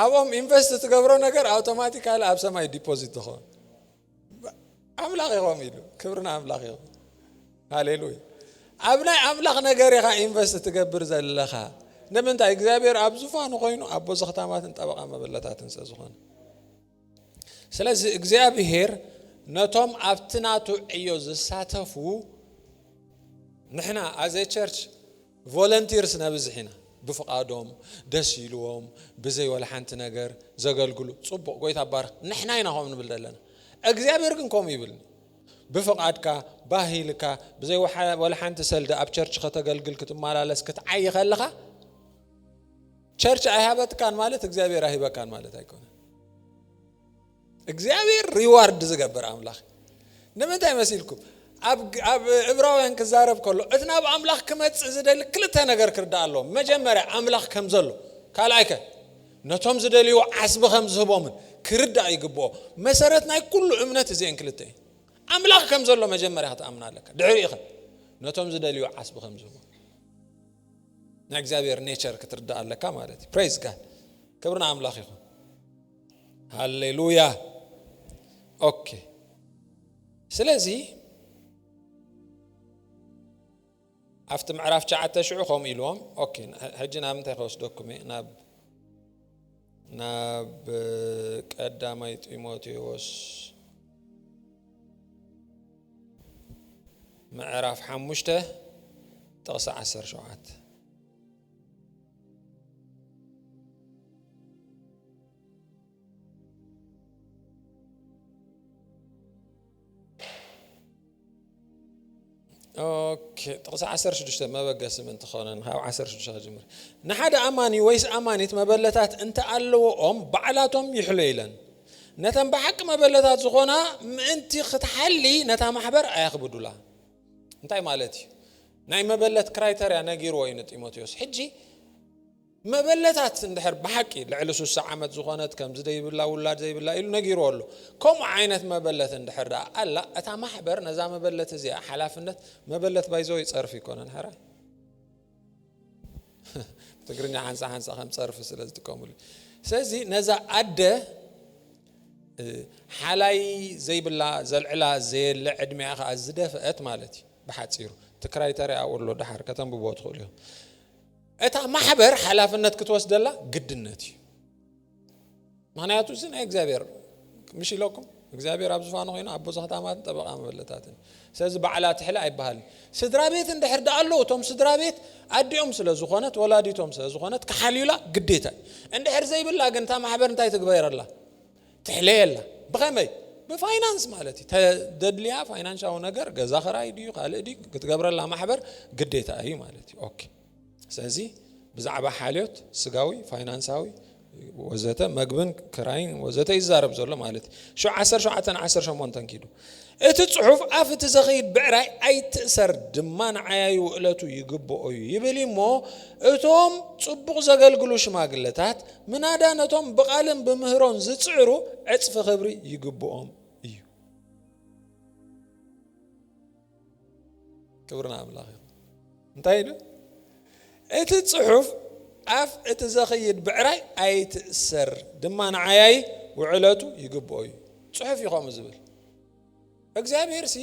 ኣብኦም ኢንቨስት ትገብሮ ነገር ኣውቶማቲካሊ ኣብ ሰማይ ዲፖዚት ትኸውን። ኣምላኽ ይኸም ኢሉ ክብሪ ንኣምላኽ ይኹን። ሃሌሉያ። ኣብ ናይ ኣምላኽ ነገር ኢኻ ኢንቨስት ትገብር ዘለኻ ንምንታይ? እግዚኣብሔር ኣብ ዙፋኑ ኮይኑ ኣቦ ዘኽታማትን ጠበቓ መበለታትን ስለ ዝኾነ ስለዚ እግዚኣብሄር ነቶም ኣብቲ ናቱ ዕዮ ዝሳተፉ ንሕና ኣዘ ቸርች ቮለንቲርስ ነብዝሕ ኢና ብፍቓዶም ደስ ኢልዎም ብዘይ ወላ ሓንቲ ነገር ዘገልግሉ ፅቡቕ ጎይታ ባርኽ ንሕና ኢና ከምኡ ንብል ዘለና እግዚኣብሄር ግን ከምኡ ይብልኒ ብፍቓድካ ባህልካ ብዘይ ወላ ሓንቲ ሰልዲ ኣብ ቸርች ከተገልግል ክትመላለስ ክትዓይ ከለኻ ቸርች ኣይሃበትካን ማለት እግዚኣብሔር ኣይህበካን ማለት ኣይኮነን እግዚኣብሔር ሪዋርድ ዝገብር ኣምላኽ ንምንታይ መሲልኩም ኣብ እብራውያን ክዛረብ ከሎ እቲ ናብ ኣምላኽ ክመፅእ ዝደሊ ክልተ ነገር ክርዳእ ኣለዎ መጀመርያ ኣምላኽ ከም ዘሎ ካልኣይ ከ ነቶም ዝደልይዎ ዓስቢ ከም ዝህቦምን ክርዳእ ይግብኦ መሰረት ናይ ኩሉ እምነት እዚአን ክልተ እዩ ኣምላኽ ከም ዘሎ መጀመርያ ክትኣምና ኣለካ ድሕሪ ኢኸ ነቶም ዝደልዩ ዓስቢ ከም ዝህቦ ናይ እግዚኣብሔር ኔቸር ክትርዳእ ኣለካ ማለት እዩ ፕሬዝ ጋድ ክብሪ ንኣምላኽ ይኹን ሃሌሉያ ኦኬ ስለዚ ኣብቲ ምዕራፍ ሸዓተ ሽዑ ከምኡ ኢልዎም ኦኬ ሕጂ ናብ እንታይ ከወስደኩም እየ ናብ ናብ ቀዳማይ ጢሞቴዎስ ምዕራፍ ሓሙሽተ ጥቕሲ ዓሰርተ ሸውዓተ ጥቕሲ ዓሰርተ ሽዱሽተ መበገሲ ምእንቲ ኾነን ካብ ዓሰርተ ሽዱሽተ ክጅምር ንሓደ ኣማኒ ወይስ ኣማኒት መበለታት እንተኣለዎኦም ባዕላቶም ይሕሎ ኢለን ነተን ብሓቂ መበለታት ዝኾና ምእንቲ ክትሓሊ ነታ ማሕበር ኣየኽብዱላ። እንታይ ማለት እዩ? ናይ መበለት ክራይተርያ ነጊርዎ እዩ ንጢሞቴዎስ። ሕጂ መበለታት እንድሕር ብሓቂ ልዕሊ ሱሳ ዓመት ዝኾነት ከምዚ ዘይብላ ውላድ ዘይብላ ኢሉ ነጊርዎ ኣሎ። ከምኡ ዓይነት መበለት እንድሕር ደኣ ኣላ እታ ማሕበር ነዛ መበለት እዚኣ ሓላፍነት መበለት ባይዘወይ ጸርፊ ኣይኮነን ሕራይ ትግርኛ ሓንሳ ሓንሳ ከም ፀርፊ ስለ ዝጥቀምሉ ስለዚ ነዛ ኣደ ሓላይ ዘይብላ ዘልዕላ ዘየለ ዕድሜኣ ከዓ ዝደፍአት ማለት እዩ ብሓፂሩ ትክራይ ተሪኣ ወሎ ድሓር ከተንብቦ ትኽእሉ እዮም እታ ማሕበር ሓላፍነት ክትወስደላ ግድነት እዩ ምክንያቱ እዚ ናይ እግዚኣብሔር ምሽ ኢለኩም እግዚኣብሔር ኣብ ዝፋኑ ኮይኑ ኣቦ ዝክታማትን ጠበቃ መበለታትን ስለዚ በዓላ ትሕለ ኣይበሃልን ስድራ ቤት እንድሕር ዳ ኣለዉ እቶም ስድራ ቤት ኣዲኦም ስለ ዝኾነት ወላዲቶም ስለ ዝኾነት ክሓልዩላ ግዴታ እንድሕር ዘይብላ ግን እታ ማሕበር እንታይ ትግበረላ ትሕለየላ ብኸመይ ብፋይናንስ ማለት እዩ ተደድልያ ፋይናንሻዊ ነገር ገዛ ክራይ ድዩ ካልእ ድዩ ክትገብረላ ማሕበር ግዴታ እዩ ማለት እዩ ኦኬ ስለዚ ብዛዕባ ሓልዮት ስጋዊ ፋይናንሳዊ ወዘተ መግብን ክራይን ወዘተ ይዛረብ ዘሎ ማለት እዩ ሸ 17 18 ኪዱ እቲ ፅሑፍ ኣፍ እቲ ዘኸይድ ብዕራይ ኣይትእሰር ድማ ንዓያዩ ውእለቱ ይግብኦ እዩ ይብል እሞ እቶም ፅቡቕ ዘገልግሉ ሽማግለታት ምናዳ ነቶም ብቓልን ብምህሮን ዝፅዕሩ ዕፅፊ ክብሪ ይግብኦም እዩ ክብሪ ንኣምላኽ ይኹን። እንታይ ኢሉ? እቲ ጽሑፍ ኣፍ እቲ ዘኽይድ ብዕራይ ኣይትእሰር ድማ ንዓያይ ውዕለቱ ይግብኦ እዩ። ጽሑፍ እዩ ከምኡ ዝብል። እግዚኣብሔር ሲ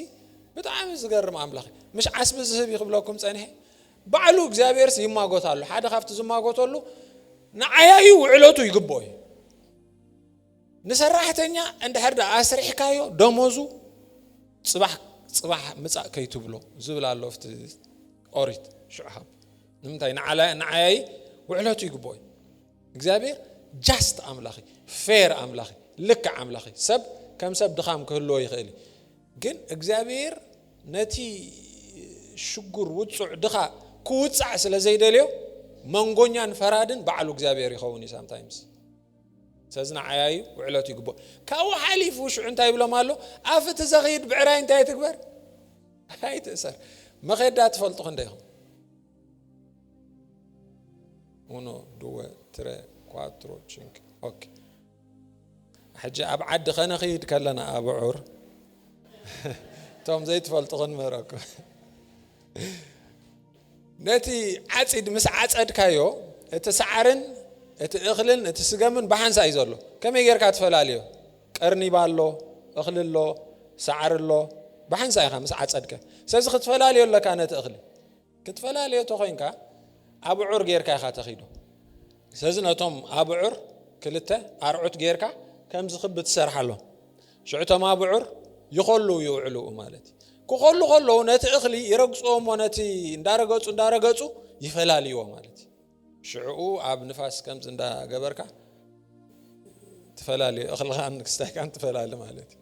ብጣዕሚ ዝገርም ኣምላኽ እዩ። ምሽ ዓስቢ ዝህብ እዩ ክብለኩም ጸኒሐ። ባዕሉ እግዚኣብሔር ሲ ይማጎት ኣሎ። ሓደ ካብቲ ዝማጎተሉ ንዓያዩ ውዕለቱ ይግብኦ እዩ። ንሰራሕተኛ እንድሕር ድኣ ኣስሪሕካዮ ደሞዙ ጽባሕ ጽባሕ ምጻእ ከይትብሎ ዝብል ኣሎ ኣብቲ ኦሪት ሽዑ ሃብ ንምንታይ ንዓያይ ውዕለቱ ይግብኦ እዩ እግዚኣብሔር ጃስት ኣምላኽ ፌር ኣምላኽ ልክዕ ኣምላኽ ሰብ ከም ሰብ ድኻም ክህልዎ ይኽእል እዩ ግን እግዚኣብሔር ነቲ ሽጉር ውፁዕ ድኻ ክውፃዕ ስለ ዘይደልዮ መንጎኛን ፈራድን ባዕሉ እግዚኣብሔር ይኸውን እዩ ሳምታይምስ ሰዚ ንዓያዩ ውዕለቱ ይግብኦ ካብኡ ሓሊፉ ሽዑ እንታይ ይብሎም ኣሎ ኣፍ እቲ ዘኽይድ ብዕራይ እንታይ ትግበር ኣይትእሰር መኼዳ ትፈልጡ ክንደ ኢኹም ኡኖ ድወ ትረ ኳትሮ ቺንክ ኦኬ ሕጂ ኣብ ዓዲ ከነኽይድ ከለና ኣብዑር እቶም ዘይትፈልጡ ክንምህረኩም ነቲ ዓጺድ ምስ ዓጸድካዮ እቲ ሳዓርን እቲ እኽልን እቲ ስገምን ብሓንሳእ እዩ ዘሎ ከመይ ጌርካ ትፈላልዮ ቀርኒባ ኣሎ እኽሊ ኣሎ ሳዓሪ ኣሎ ብሓንሳእ ኢኻ ምስ ዓጸድካ ስለዚ ክትፈላልዮ ኣለካ ነቲ እኽሊ ክትፈላልዮ ተኾይንካ ኣብዑር ጌርካ ኢኻ ተኺዶ ስለዚ ነቶም ኣብዑር ክልተ ኣርዑት ጌርካ ከምዚ ክቢ ትሰርሓሎም ሽዑ እቶም ኣብዑር ይኾልው ይውዕሉ ማለት እዩ። ክኾሉ ከለዉ ነቲ እኽሊ ይረግፅዎ እሞ ነቲ እንዳረገፁ እንዳረገፁ ይፈላልይዎ ማለት እዩ። ሽዕኡ ኣብ ንፋስ ከምዚ እንዳገበርካ ትፈላልዮ እኽልኻን ክስታይካን ትፈላሊ ማለት እዩ።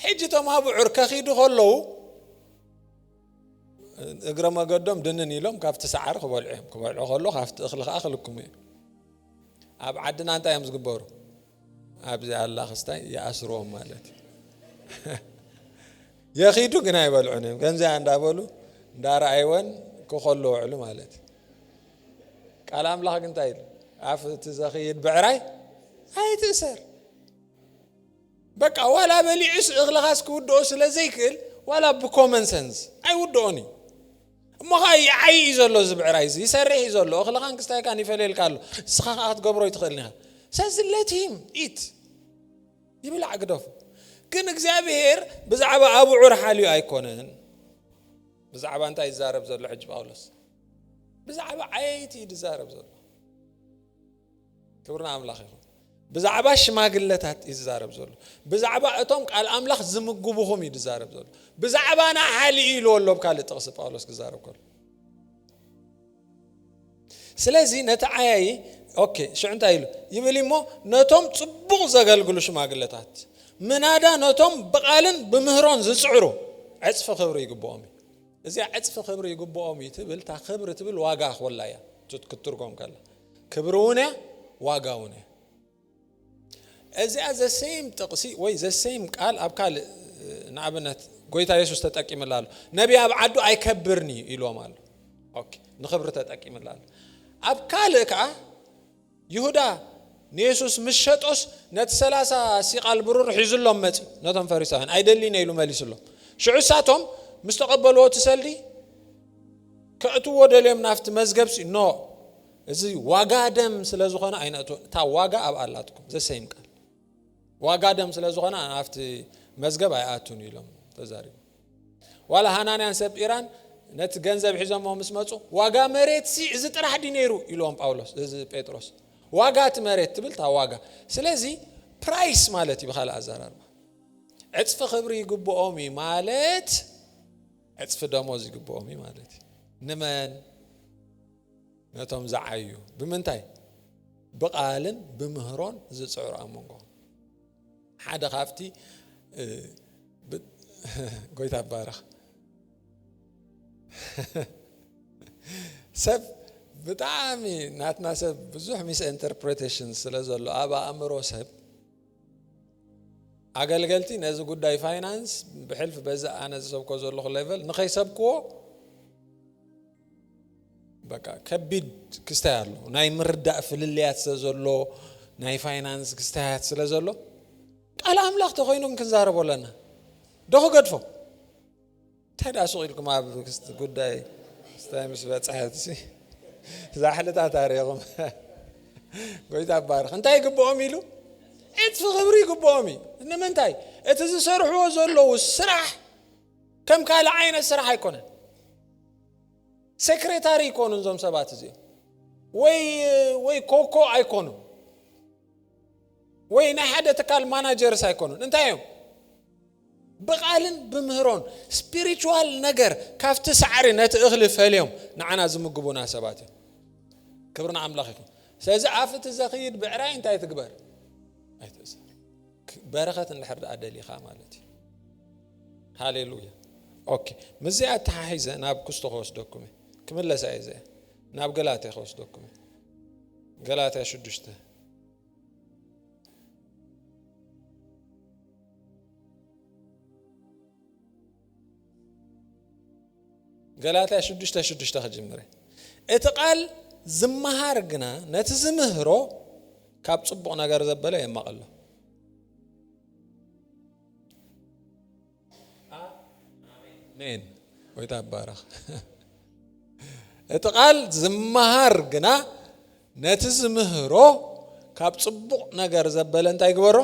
ሕጂ እቶም ኣብዑር ከኺዱ ከለዉ እግረ መገዶም ድንን ኢሎም ካብቲ ሰዓሪ ክበልዑ እዮም ክበልዑ ከሎ ካብቲ እኽሊ ከዓ ክልክሙ እዮም ኣብ ዓድና እንታይ እዮም ዝግበሩ ኣብዚ ኣላ ክስታይ ይኣስርዎም ማለት እዩ የኺዱ ግን ኣይበልዑን እዮም ከምዚኣ እንዳበሉ እንዳረኣይወን ክኸሉ ውዕሉ ማለት እዩ ቃል ኣምላኽ ግን እንታይ ኢሉ ኣፍ እቲ ዘኽይድ ብዕራይ ኣይትእሰር በቃ ዋላ በሊዑስ እኽልኻስ ክውድኦ ስለ ዘይክእል ዋላ ብኮመን ሰንስ ኣይውድኦን እዩ እሞ ኸኣ ይዓዪ እዩ ዘሎ እዚ ብዕራይ እዚ ይሰርሕ እዩ ዘሎ እኽልኻን ክስታይካን ይፈልየልካ ኣሎ ንስኻ ኸኣ ክትገብሮ ኣይትኽእልን ኢኻ ስለዚ ለት ሂም ኢት ይብላዕ ግደፉ ግን እግዚኣብሄር ብዛዕባ ኣብዑር ሓልዩ ኣይኮነን ብዛዕባ እንታይ ይዛረብ ዘሎ ሕጂ ጳውሎስ ብዛዕባ ዓየይቲ እዩ ዝዛረብ ዘሎ ክብሪ ንኣምላኽ ይኹን። ብዛዕባ ሽማግለታት እዩ ዝዛረብ ዘሎ። ብዛዕባ እቶም ቃል ኣምላኽ ዝምግቡኹም እዩ ዝዛረብ ዘሎ። ብዛዕባና ሓሊ እዩ ኢልዎ ኣሎ ካልእ ጥቕሲ ጳውሎስ ክዛረብ ከሎ። ስለዚ ነቲ ዓያዪ ኦኬ ሽዑ እንታይ ኢሉ ይብል እሞ ነቶም ጽቡቕ ዘገልግሉ ሽማግለታት ምናዳ ነቶም ብቓልን ብምህሮን ዝጽዕሩ ዕጽፊ ክብሪ ይግብኦም እዩ። እዚኣ ዕጽፊ ክብሪ ይግብኦም እዩ ትብል እታ ክብሪ ትብል ዋጋ ኮላ እያ ክትትርጎም ከላ ክብሪ እውን እያ ዋጋ እውን እያ እዚኣ ዘሰይም ጥቕሲ ወይ ዘሰይም ቃል ኣብ ካልእ ንኣብነት ጎይታ የሱስ ተጠቂምላ ኣሎ ነቢይ ኣብ ዓዱ ኣይከብርን እዩ ኢልዎም ኣሎ ንክብሪ ተጠቂምላ ኣሎ ኣብ ካልእ ከዓ ይሁዳ ንየሱስ ምስ ሸጦስ፣ ነቲ ሰላሳ ሲቓል ብሩር ሒዙሎም መጺኡ፣ ነቶም ፈሪሳውያን፣ ኣይደልይን እየ ኢሉ መሊሱሎም። ሽዑ እሳቶም ምስ ተቐበልዎ እቲ ሰልዲ ከእትውዎ ደልዮም ናብቲ መዝገብሲ፣ ኖ፣ እዚ ዋጋ ደም ስለ ዝኾነ ኣይነእትዎን፣ እታ ዋጋ ኣብኣ ኣላትኩም፣ the same ቃል፣ ዋጋ ደም ስለ ዝኾነ ናብቲ መዝገብ ኣይኣቱን ኢሎም ተዛሪቦም። ዋላ ሃናንያን ሰጲራን ነቲ ገንዘብ ሒዞሞ ምስ መጹ ዋጋ መሬት ሲ እዚ ጥራሕ ዲ ነይሩ ኢልዎም ጳውሎስ እዚ ጴጥሮስ ዋጋ እቲ መሬት ትብል እታ ዋጋ ስለዚ ፕራይስ ማለት እዩ ብካልእ ኣዘራርባ ዕፅፊ ክብሪ ይግብኦም እዩ ማለት ዕፅፊ ደሞዝ ይግብኦም እዩ ማለት እዩ ንመን ነቶም ዝዓዩ ብምንታይ ብቓልን ብምህሮን ዝፅዕሩ ኣብ መንጎ ሓደ ካብቲ ጎይታ ባረኽ ሰብ ብጣዕሚ ናትና ሰብ ብዙሕ ሚስ ኢንተርፕሬቴሽን ስለ ዘሎ ኣብ ኣእምሮ ሰብ ኣገልገልቲ ነዚ ጉዳይ ፋይናንስ ብሕልፊ በዚ ኣነ ዝሰብኮ ዘለኹ ሌቨል ንኸይሰብክዎ በቃ ከቢድ ክስታይ ኣሎ ናይ ምርዳእ ፍልልያት ስለ ዘሎ ናይ ፋይናንስ ክስታያት ስለ ዘሎ ቃል ኣምላኽ ተኮይኑ ክንዛረቦ ኣለና ዶ ክገድፎ እንታይ ደኣ ሱቕ ኢልኩም ኣብ ጉዳይ ስታይ ምስ በፅሐት ዛሕልታት ኣሪኹም ጎይታ ባርኽ እንታይ ይግብኦም ኢሉ ዕፅፊ ክብሪ ይግብኦም እዩ ንምንታይ እቲ ዝሰርሕዎ ዘለዉ ስራሕ ከም ካልእ ዓይነት ስራሕ ኣይኮነን ሴክሬታሪ ይኮኑ እዞም ሰባት እዚኦም ወይ ወይ ኮኮ ኣይኮኑ ወይ ናይ ሓደ ትካል ማናጀርስ ኣይኮኑን እንታይ እዮም ብቃልን ብምህሮን ስፒሪቹዋል ነገር ካብቲ ሳዕሪ ነቲ እኽሊ ፈልዮም ንዓና ዝምግቡና ሰባት እዮም ክብሪ ንኣምላኽ ይኹን ስለዚ ኣፍቲ ዘኽይድ ብዕራይ እንታይ ትግበር ኣይትእሰር በረኸት እንድሕር ደኣ ደሊኻ ማለት እዩ ሃሌሉያ ኦኬ ምስዚ ኣተሓሒዘ ናብ ክስቶ ከወስደኩም እየ ክምለሳ እየ ዘ ናብ ገላትያ ከወስደኩም እየ ገላትያ ሽዱሽተ ገላትያ ሽዱሽተ ሽዱሽተ ክጅምር እቲ ቃል ዝመሃር ግና ነቲ ዝምህሮ ካብ ጽቡቕ ነገር ዘበለ የማቐሎ ሜን ወይ ታባረኽ እቲ ቃል ዝመሃር ግና ነቲ ዝምህሮ ካብ ጽቡቕ ነገር ዘበለ እንታይ ይግበሮ?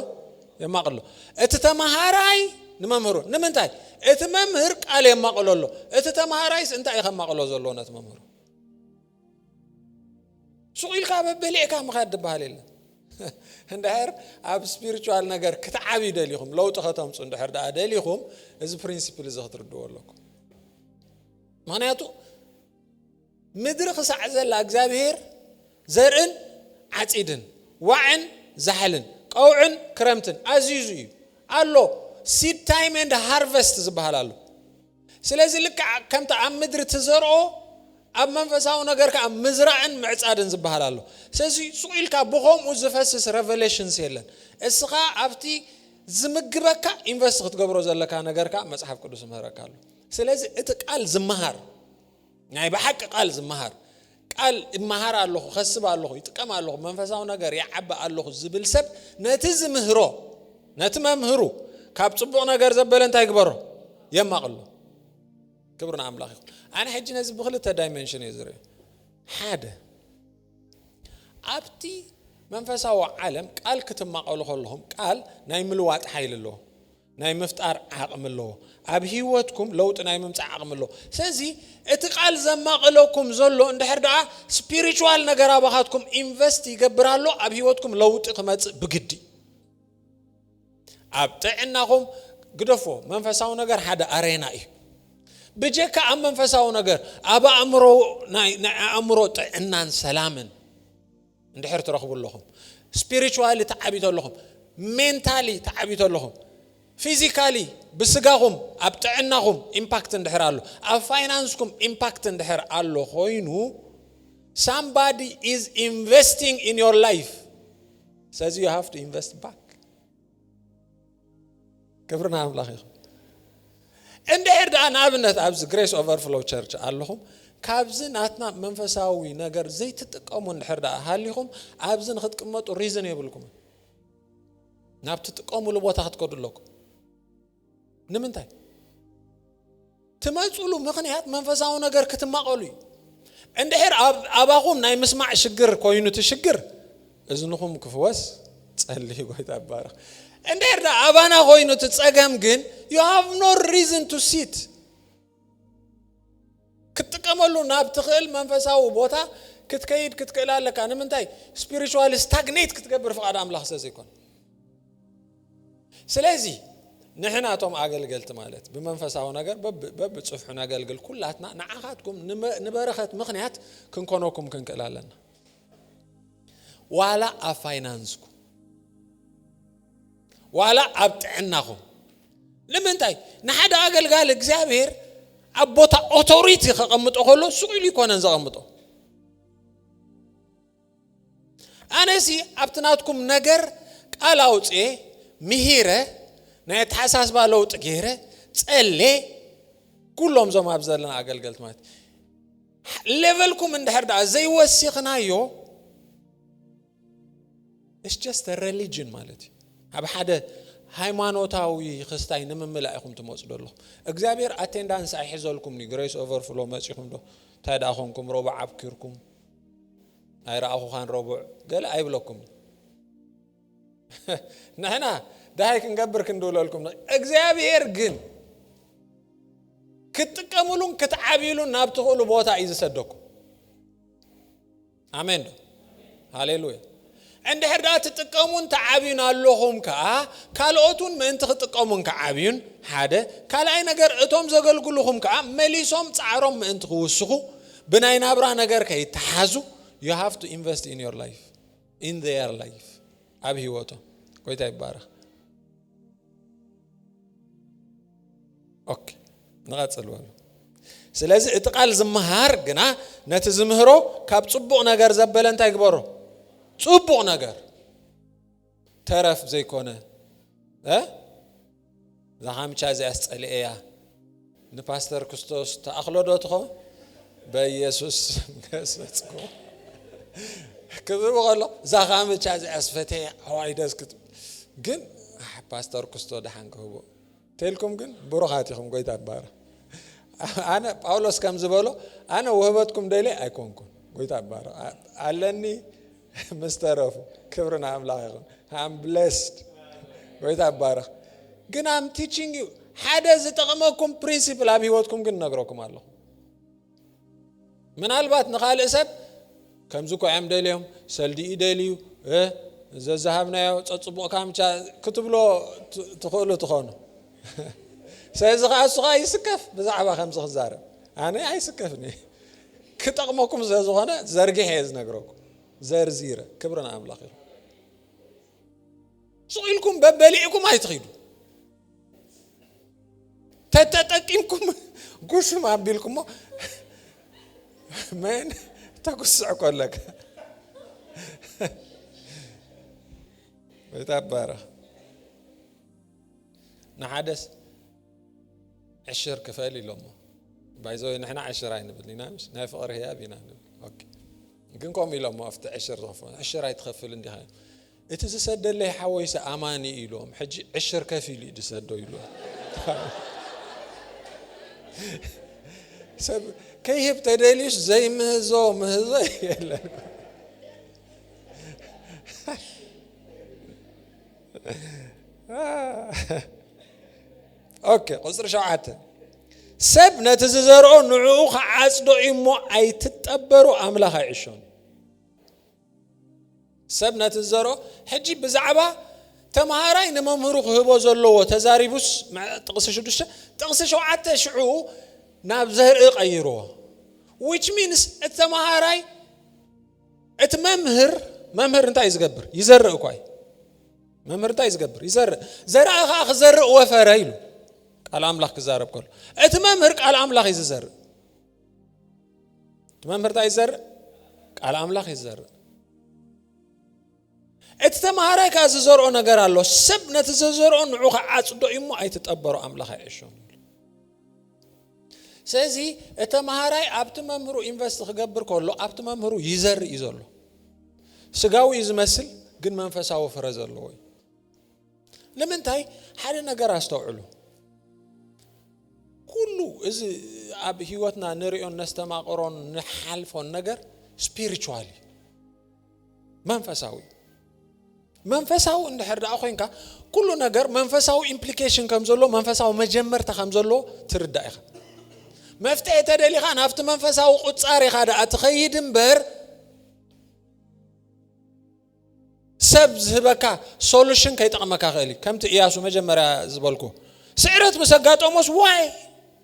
የማቕሎ። እቲ ተማሃራይ ንመምህሩ ንምንታይ? እቲ መምህር ቃል የማቕሎ ኣሎ። እቲ ተማሃራይስ እንታይ እዩ ከማቕሎ ዘለዎ ነቲ መምህሩ? ሱቕ ኢልካ በበሊዕካ ምኻድ ዝበሃል የለን። እንድሕር ኣብ ስፒሪቹዋል ነገር ክትዓብዩ ደሊኹም ለውጢ ከተምፁ እንድሕር ደኣ ደሊኹም እዚ ፕሪንሲፕል እዚ ክትርድዎ ኣለኩም ምክንያቱ ምድሪ ኽሳዕ ዘላ እግዚኣብሄር ዘርእን ዓጺድን፣ ዋዕን ዛሕልን፣ ቀውዕን ክረምትን ኣዚዙ እዩ ኣሎ፣ Seed Time and Harvest ዝበሃል ኣሎ። ስለዚ ልክዕ ከምቲ ኣብ ምድሪ ትዘርኦ ኣብ መንፈሳዊ ነገር ከኣ ምዝራእን ምዕጻድን ዝበሃል ኣሎ። ስለዚ ሱቕ ኢልካ ብኸምኡ ዝፈስስ Revelations የለን። እስኻ ኣብቲ ዝምግበካ ኢንቨስት ክትገብሮ ዘለካ ነገር ከኣ መጽሓፍ ቅዱስ ይምህረካ ኣሎ። ስለዚ እቲ ቃል ዝመሃር ናይ ብሓቂ ቃል ዝመሃር ቃል እመሃር ኣለኹ ከስብ ኣለኹ ይጥቀም ኣለኹ መንፈሳዊ ነገር ይዓቢ ኣለኹ ዝብል ሰብ ነቲ ዝምህሮ ነቲ መምህሩ ካብ ፅቡቕ ነገር ዘበለ እንታይ ግበሮ የማቕሎ ክብሪ ንኣምላኽ ይኹን ኣነ ሕጂ ነዚ ብክልተ ዳይመንሽን እየ ዝርኢ ሓደ ኣብቲ መንፈሳዊ ዓለም ቃል ክትማቐሉ ከለኹም ቃል ናይ ምልዋጥ ሓይሊ ኣለዎ ናይ ምፍጣር ዓቕሚ ኣለዎ። ኣብ ህይወትኩም ለውጢ ናይ ምምጻእ ዓቕሚ ኣለዎ። ስለዚ እቲ ቃል ዘማቕለኩም ዘሎ እንድሕር ደኣ ስፒሪቹዋል ነገር ኣባኻትኩም ኢንቨስት ይገብር ኣሎ ኣብ ህይወትኩም ለውጢ ክመጽእ ብግዲ ኣብ ጥዕናኹም ግደፎ መንፈሳዊ ነገር ሓደ ኣሬና እዩ ብጀካ ኣብ መንፈሳዊ ነገር ኣብ ኣእምሮ ናይ ኣእምሮ ጥዕናን ሰላምን እንድሕር ትረኽቡ ኣለኹም ስፒሪቹዋሊ ተዓብዩ ተለኹም ሜንታሊ ተዓብዩ ተለኹም ፊዚካሊ ብስጋኹም ኣብ ጥዕናኹም ኢምፓክት እንድሕር ኣሎ ኣብ ፋይናንስኩም ኢምፓክት እንድሕር ኣሎ ኮይኑ ሳምባዲ ኢዝ ኢንቨስቲንግ ኢን ዮር ላይፍ ስለዚ ዩ ሃቭ ቱ ኢንቨስት ባክ ክብሪ ናይ ኣምላኽ ይኹን እንድሕር ደኣ ንኣብነት ኣብዚ ግሬስ ኦቨርፍሎ ቸርች ኣለኹም ካብዚ ናትና መንፈሳዊ ነገር ዘይትጥቀሙ እንድሕር ደኣ ሃሊኹም ኣብዚ ንክትቅመጡ ሪዝን የብልኩም ናብ ትጥቀሙሉ ቦታ ክትከዱ ኣለኩም ንምንታይ ትመፅሉ ምክንያት መንፈሳዊ ነገር ክትማቐሉ እዩ እንድሕር ኣባኹም ናይ ምስማዕ ሽግር ኮይኑ እቲ ሽግር እዝንኹም ክፍወስ ጸልዩ ጎይታ ይባረኽ እንድሕር ኣባና ኮይኑ እቲ ጸገም ግን ዩ ሃቭ ኖ ሪዝን ቱ ሲት ክትጥቀመሉ ናብ ትኽእል መንፈሳዊ ቦታ ክትከይድ ክትክእል ኣለካ ንምንታይ ስፒሪቹዋል ስታግኔት ክትገብር ፍቓድ ኣምላኽ ስለ ዘይኮነ ስለዚ ንሕና እቶም ኣገልገልቲ ማለት ብመንፈሳዊ ነገር በብፅፍሑ ነገልግል ኩላትና ንዓኻትኩም ንበረኸት ምክንያት ክንኮነኩም ክንክእል ኣለና ዋላ ኣብ ፋይናንስኩም ዋላ ኣብ ጥዕናኹም ንምንታይ ንሓደ ኣገልጋሊ እግዚኣብሔር ኣብ ቦታ ኦቶሪቲ ከቐምጦ ከሎ ሱቕ ኢሉ ይኮነን ዘቐምጦ ኣነሲ ኣብቲ ናትኩም ነገር ቃል ኣውፅኤ ምሂረ ናይ ኣተሓሳስባ ለውጢ ገይረ ፀሌ ኩሎም ዞም ኣብ ዘለና ኣገልገልቲ ማለት ሌቨልኩም እንድሕር ደኣ ዘይወሲኽናዮ ኢትስ ጀስት አ ረሊጅን ማለት እዩ ናብ ሓደ ሃይማኖታዊ ክስታይ ንምምላእ ኢኹም ትመፁ ዘለኹም እግዚኣብሔር ኣቴንዳንስ ኣይሕዘልኩምኒ ግሬስ ኦቨርፍሎ መፂኹም ዶ እንታይ ደኣ ኮንኩም ረቡዕ ኣብኪርኩም ኣይረኣኹኻን ረቡዕ ገለ ኣይብለኩም ንሕና ደሃይ ክንገብር ክንድውለልኩም እግዚኣብሔር ግን ክትጥቀምሉን ክትዓብሉን ናብ ትኽእሉ ቦታ እዩ ዝሰደኩም ኣሜን ዶ ሃሌሉያ እንድሕር ደኣ ትጥቀሙን ትዓብዩን ኣለኹም ከኣ ካልኦት እውን ምእንቲ ክጥቀሙን ክዓብዩን ሓደ ካልኣይ ነገር እቶም ዘገልግሉኹም ከኣ መሊሶም ጻዕሮም ምእንቲ ክውስኹ ብናይ ናብራ ነገር ከይተሓዙ ዩ ሃቭ ቱ ኢንቨስት ኢን ዮር ላይፍ ኢን ዘየር ላይፍ ኣብ ህይወቶም ጎይታ ይባረኽ ኦኬ ንቐፅል በሉ ስለዚ እቲ ቃል ዝመሃር ግና ነቲ ዝምህሮ ካብ ፅቡቕ ነገር ዘበለ እንታይ ግበሮ ፅቡቕ ነገር ተረፍ ዘይኮነ እዛ ሓምቻ እዚኣስ ፀልኤያ ንፓስተር ክስቶስ ተኣኽሎ ዶ ትኾ በየሱስ ገሰጽኩ ክዝብ ከሎ እዛ ካምቻ እዚኣ ስፈተየ ኣዋይ ደስ ክትብል ግን ፓስተር ክስቶ ደሓን ክህቦ ተልኩም ግን ብሩኻት ኢኹም ጎይታ ባረ ኣነ ጳውሎስ ከም ዝበሎ ኣነ ውህበትኩም ደልየ ኣይኮንኩን ጎይታ ባረ ኣለኒ ምስ ተረፉ ክብሪ ንኣምላኽ ይኹን ኣም ብለስድ ጎይታ ይባረኽ ግን ኣም ቲችንግ ዩ ሓደ ዝጠቕመኩም ፕሪንሲፕል ኣብ ሂወትኩም ግን ነግረኩም ኣለኹ ምናልባት ንካልእ ሰብ ከምዚ ኮዕም ደልዮም ሰልዲኡ ደልዩ ዘዝሃብናዮ ፀፅቡቕ ካምቻ ክትብሎ ትኽእሉ ትኾኑ ስለዚ ከዓ እሱ ከዓ ይስከፍ ብዛዕባ ከምዚ ክዛረብ ኣነ ኣይስከፍኒ ክጠቕመኩም ስለዝኾነ ዘርጊሐ እየ ዝነግረኩም ዘርዚረ ክብሪ ንኣምላኽ ይኹን ሱቕ ኢልኩም በበሊዕኩም ኣይትኺዱ ተተጠቂምኩም ጉሽም ኣቢልኩሞ መን ተጉስዕ ኮለካ ወይ ታባረኽ ንሓደስ ዕሽር ክፈል ኢሎሞ ባይዘወይ ንሕና ዕሽር ኣይንብል ኢና ምሽ ናይ ፍቕሪ ህያብ ኢና ንብል ግን ከምኡ ኢሎሞ ኣብቲ ዕሽር ዝኸፈ ዕሽር ኣይትኸፍል እንዲኻ እቲ ዝሰደለይ ሓወይሰ ኣማኒ ኢሎም ሕጂ ዕሽር ከፍ ኢሉ እዩ ዝሰዶ ኢሉ ሰብ ከይህብ ተደልዩስ ዘይምህዞ ምህዞ የለን ኦኬ ቁፅሪ ሸውዓተ ሰብ ነቲ ዝዘርኦ ንዕኡ ክዓፅዶ እዩ እሞ ኣይትጠበሩ ኣምላኽ ኣይዕሾን ሰብ ነቲ ዝዘርኦ ሕጂ ብዛዕባ ተምሃራይ ንመምህሩ ክህቦ ዘለዎ ተዛሪቡስ ጥቕሲ ሽዱሽተ ጥቕሲ ሸውዓተ ሽዑ ናብ ዘርኢ ቀይርዎ ዊች ሚንስ እቲ ተምሃራይ እቲ መምህር መምህር እንታይ እዩ ዝገብር ይዘርእ እኳ እዩ መምህር እንታይ ዝገብር ይዘርእ ዘርኣ ከዓ ክዘርእ ወፈረ ኢሉ ቃል ኣምላኽ ክዛረብ ከሎ እቲ መምህር ቃል ኣምላኽ እዩ ዝዘርእ እቲ መምህር እንታይ ይዘርእ ቃል ኣምላኽ ይዘርእ እቲ ተማሃራይ ከኣ ዝዘርኦ ነገር ኣሎ ሰብ ነቲ ዘዘርኦ ንዑ ክዓጽዶ እዩ እሞ ኣይትጠበሮ ኣምላኽ ኣይዕሾን ስለዚ እቲ ተማሃራይ ኣብቲ መምህሩ ኢንቨስት ክገብር ከሎ ኣብቲ መምህሩ ይዘርእ እዩ ዘሎ ስጋዊ እዩ ዝመስል ግን መንፈሳዊ ፍረ ዘለዎ እዩ ንምንታይ ሓደ ነገር ኣስተውዕሉ ኩሉ እዚ ኣብ ህይወትና ንሪኦን ነስተማቕሮን ንሓልፎን ነገር ስፒሪቹዋል እዩ መንፈሳዊ መንፈሳዊ እንድሕር ደኣ ኮንካ ኩሉ ነገር መንፈሳዊ ኢምፕሊኬሽን ከም ዘሎ መንፈሳዊ መጀመርታ ከም ዘሎ ትርዳእ ኢኻ መፍትሒ ተደሊኻ ናብቲ መንፈሳዊ ቁፃር ኢኻ ደኣ ትኸይድ እምበር ሰብ ዝህበካ ሶሉሽን ከይጠቕመካ ክእል እዩ ከምቲ እያሱ መጀመርያ ዝበልኩ ስዕረት ምስ ኣጋጠሞስ ዋይ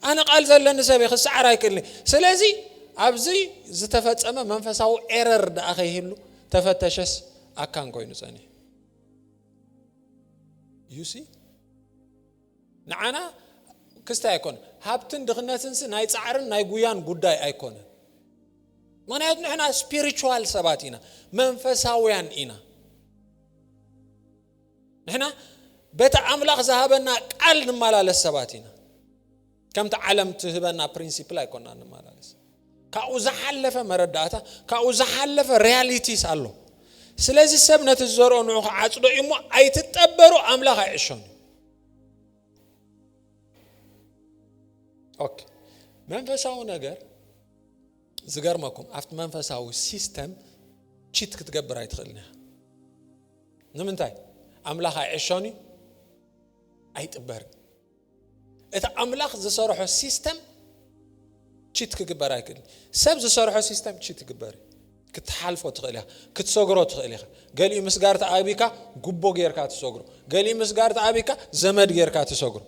ኣነ ቃል ዘለኒ ሰብ እየ ክሰዓር ኣይክእልን'የ ስለዚ ኣብዚ ዝተፈጸመ መንፈሳዊ ኤረር ደኣ ከይህሉ ተፈተሸስ ኣካን ኮይኑ ጸኒሑ ዩሲ ንዓና ክስታይ ኣይኮነ ሃብትን ድኽነትንሲ ናይ ጻዕርን ናይ ጉያን ጉዳይ ኣይኮነ ምክንያቱ ንሕና ስፒሪቹዋል ሰባት ኢና መንፈሳውያን ኢና ንሕና በቲ ኣምላኽ ዝሃበና ቃል ንመላለስ ሰባት ኢና ከምቲ ዓለም ትህበና ፕሪንሲፕል ኣይኮና ንመላለስ ካብኡ ዝሓለፈ መረዳእታ ካብኡ ዝሓለፈ ሪያሊቲስ ኣሎ ስለዚ ሰብ ነቲ ዝዘርኦ ንዑ ክዓፅዶ እዩ እሞ ኣይትጠበሩ ኣምላኽ ኣይዕሾን ኦኬ መንፈሳዊ ነገር ዝገርመኩም ኣብቲ መንፈሳዊ ሲስተም ቺት ክትገብር ኣይትኽእልን እያ ንምንታይ ኣምላኽ ኣይዕሾን እዩ ኣይጥበርን እቲ ኣምላኽ ዝሰርሖ ሲስተም ቺት ክግበር ኣይክእልን ሰብ ዝሰርሖ ሲስተም ቺት ይግበር እዩ ክትሓልፎ ትኽእል ኢኻ ክትሰግሮ ትኽእል ኢኻ ገሊኡ ምስጋር ተኣቢካ ጉቦ ጌርካ ትሰግሮ ገሊኡ ምስጋር ተኣቢካ ዘመድ ጌርካ ትሰግሮ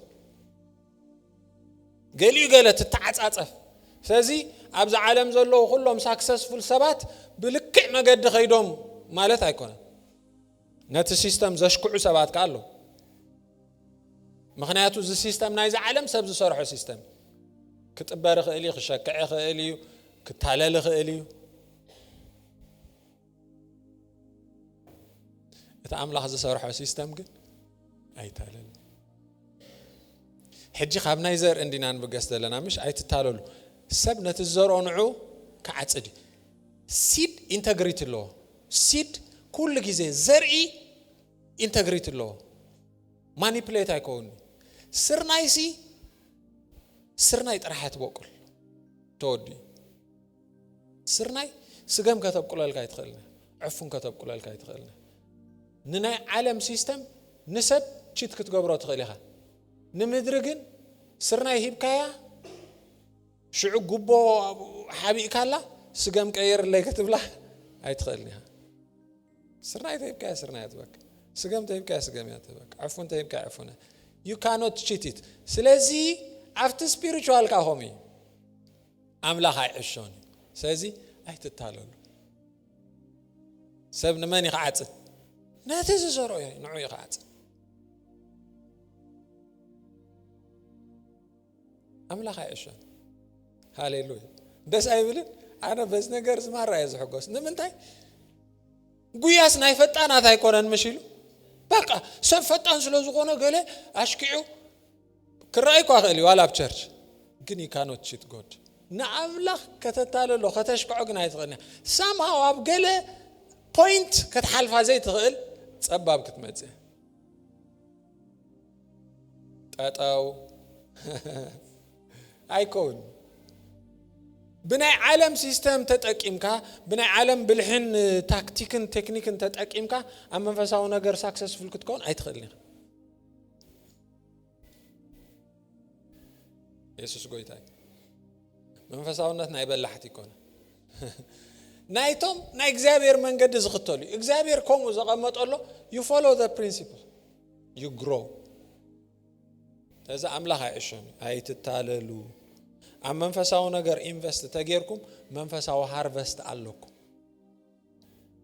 ገሊኡ ገለ ትተዓጻጸፍ ስለዚ ኣብዚ ዓለም ዘለዉ ኩሎም ሳክሰስፉል ሰባት ብልክዕ መገዲ ከይዶም ማለት ኣይኮነን ነቲ ሲስተም ዘሽክዑ ሰባት ከኣ ኣለዉ ምክንያቱ እዚ ሲስተም ናይዚ ዓለም ሰብ ዝሰርሖ ሲስተም እዩ ክጥበር ይኽእል እዩ ክሸክዕ ይኽእል እዩ ክታለል ይኽእል እዩ እቲ ኣምላኽ ዝሰርሖ ሲስተም ግን ኣይታለል ሕጂ ካብ ናይ ዘር እንዲና ንብገስ ዘለና ምሽ ኣይትታለሉ ሰብ ነቲ ዝዘርኦ ንዑ ክዓፅድ እዩ ሲድ ኢንተግሪቲ ኣለዎ ሲድ ኩሉ ግዜ ዘርኢ ኢንተግሪቲ ኣለዎ ማኒፕሌት ኣይከውን ስርናይሲ ስርናይ ጥራሕ ትበቁል ተወዲኡ ስርናይ ስገም ከተብቁለልካ ኣይትኽእልን ዕፉን ከተብቁለልካ ኣይትኽእልን ንናይ ዓለም ሲስተም ንሰብ ቺት ክትገብሮ ትኽእል ኢኻ ንምድሪ ግን ስርናይ ሂብካያ ሽዑ ጉቦ ሓቢእካላ ስገም ቀይርለይ ክትብላ ኣይትኽእልን ኢኻ ስርናይ ተሂብካያ ስርናይ ትበካ ስገም ተሂብካያ ስገም እያ ትበካ ዕፉን ተሂብካያ ዕፉን ዩ ካኖት ቺቲት ስለዚ ኣብቲ ስፒሪቹዋልካ ከምኡ እዩ ኣምላኽ ኣይዕሾን እዩ ስለዚ ኣይትታለሉ ሰብ ንመን ይክዓፅድ ነቲ ዝዘርኦ እዩ ንዑ ይክዓፅድ ኣምላኽ ኣይዕሾን ሃሌሉያ ደስ ኣይብልን ኣነ በዚ ነገር ዝማራ እየ ዝሕጎስ ንምንታይ ጉያስ ናይ ፈጣናት ኣይኮነን ምሽ ኢሉ በቃ ሰብ ፈጣን ስለ ዝኾነ ገለ ኣሽኪዑ ክረኣይ እኳ ይኽእል እዩ ዋላ ኣብ ቸርች ግን ዩ ካኖት ቺት ጎድ ንኣምላኽ ከተታለሎ ከተሽክዖ ግን ኣይትኽእልን እያ ሳምሃው ኣብ ገለ ፖይንት ከትሓልፋ ዘይትኽእል ጸባብ ክትመጽእ ጠጠው ኣይኮን ብናይ ዓለም ሲስተም ተጠቂምካ ብናይ ዓለም ብልሕን ታክቲክን ቴክኒክን ተጠቂምካ ኣብ መንፈሳዊ ነገር ሳክሰስፉል ክትከውን ኣይትኽእልን ኢኻ የሱስ ጎይታ እዩ መንፈሳውነት ናይ በላሕቲ ይኮነ ናይቶም ናይ እግዚኣብሔር መንገዲ ዝኽተሉ እዩ እግዚኣብሔር ከምኡ ዘቐመጠሎ ዩ ፎሎ ዘ ፕሪንሲፕል ዩ ግሮ እዚ ኣምላኽ ኣይዕሾም እዩ ኣይትታለሉ ኣብ መንፈሳዊ ነገር ኢንቨስት ተጌርኩም መንፈሳዊ ሃርቨስት ኣለኩም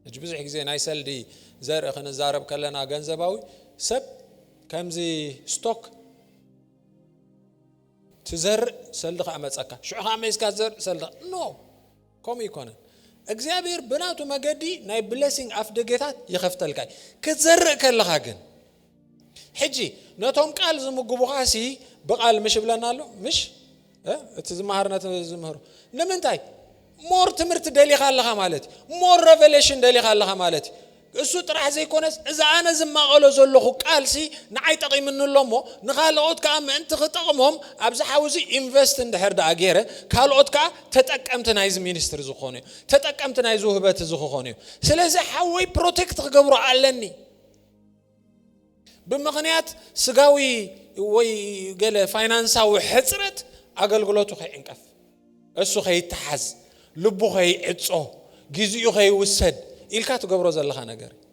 ሕጂ ብዙሕ ግዜ ናይ ሰልዲ ዘርኢ ክንዛረብ ከለና ገንዘባዊ ሰብ ከምዚ ስቶክ ትዘርእ ሰልዲ ከዓ መፀካ ሽዑ ከዓ መይስካ ትዘርእ ሰልዲ ኖ ከምኡ ይኮነን እግዚኣብሔር ብናቱ መገዲ ናይ ብሌሲንግ ኣፍ ደጌታት ይኸፍተልካ እዩ ክትዘርእ ከለኻ ግን ሕጂ ነቶም ቃል ዝምግቡኻ ሲ ብቃል ምሽ ይብለና ኣሎ ምሽ እቲ ዝመሃር ነቲ ዝምህሮ ንምንታይ ሞር ትምህርቲ ደሊኻ ኣለኻ ማለት እዩ ሞር ረቨሌሽን ደሊኻ ኣለኻ ማለት እዩ እሱ ጥራሕ ዘይኮነስ እዚ ኣነ ዝማቐሎ ዘለኹ ቃልሲ ንዓይ ጠቒምኒ ኣሎ እሞ ንካልኦት ከዓ ምእንቲ ክጠቕሞም ኣብዚ ሓዊ እዚ ኢንቨስት እንድሕር ደኣ ገይረ ካልኦት ከዓ ተጠቀምቲ ናይዚ ሚኒስትሪ ዝኾኑ እዩ ተጠቀምቲ ናይዚ ውህበት እዚ ክኾኑ እዩ ስለዚ ሓወይ ፕሮቴክት ክገብሮ ኣለኒ ብምኽንያት ስጋዊ ወይ ገለ ፋይናንሳዊ ሕጽረት ኣገልግሎቱ ከይዕንቀፍ፣ እሱ ከይተሓዝ፣ ልቡ ከይዕጾ፣ ግዜኡ ከይውሰድ ኢልካ ትገብሮ ዘለኻ ነገር እዩ።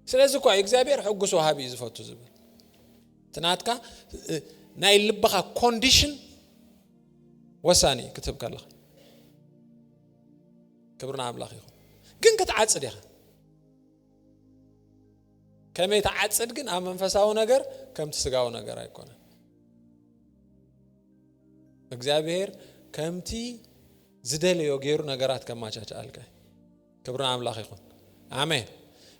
ስለዚ እኳ እግዚኣብሔር ሕጉስ ወሃቢ እዩ ዝፈቱ ዝብል እቲ ናትካ ናይ ልብኻ ኮንዲሽን ወሳኒ እዩ ክትህብ ከለኻ ክብሪ ንኣምላኽ ይኹን ግን ክትዓጽድ ኢኻ ከመይ ትዓጽድ ግን ኣብ መንፈሳዊ ነገር ከምቲ ስጋዊ ነገር ኣይኮነን እግዚኣብሔር ከምቲ ዝደለዮ ገይሩ ነገራት ከማቻቻኣልከ ክብሪ ኣምላኽ ይኹን ኣሜን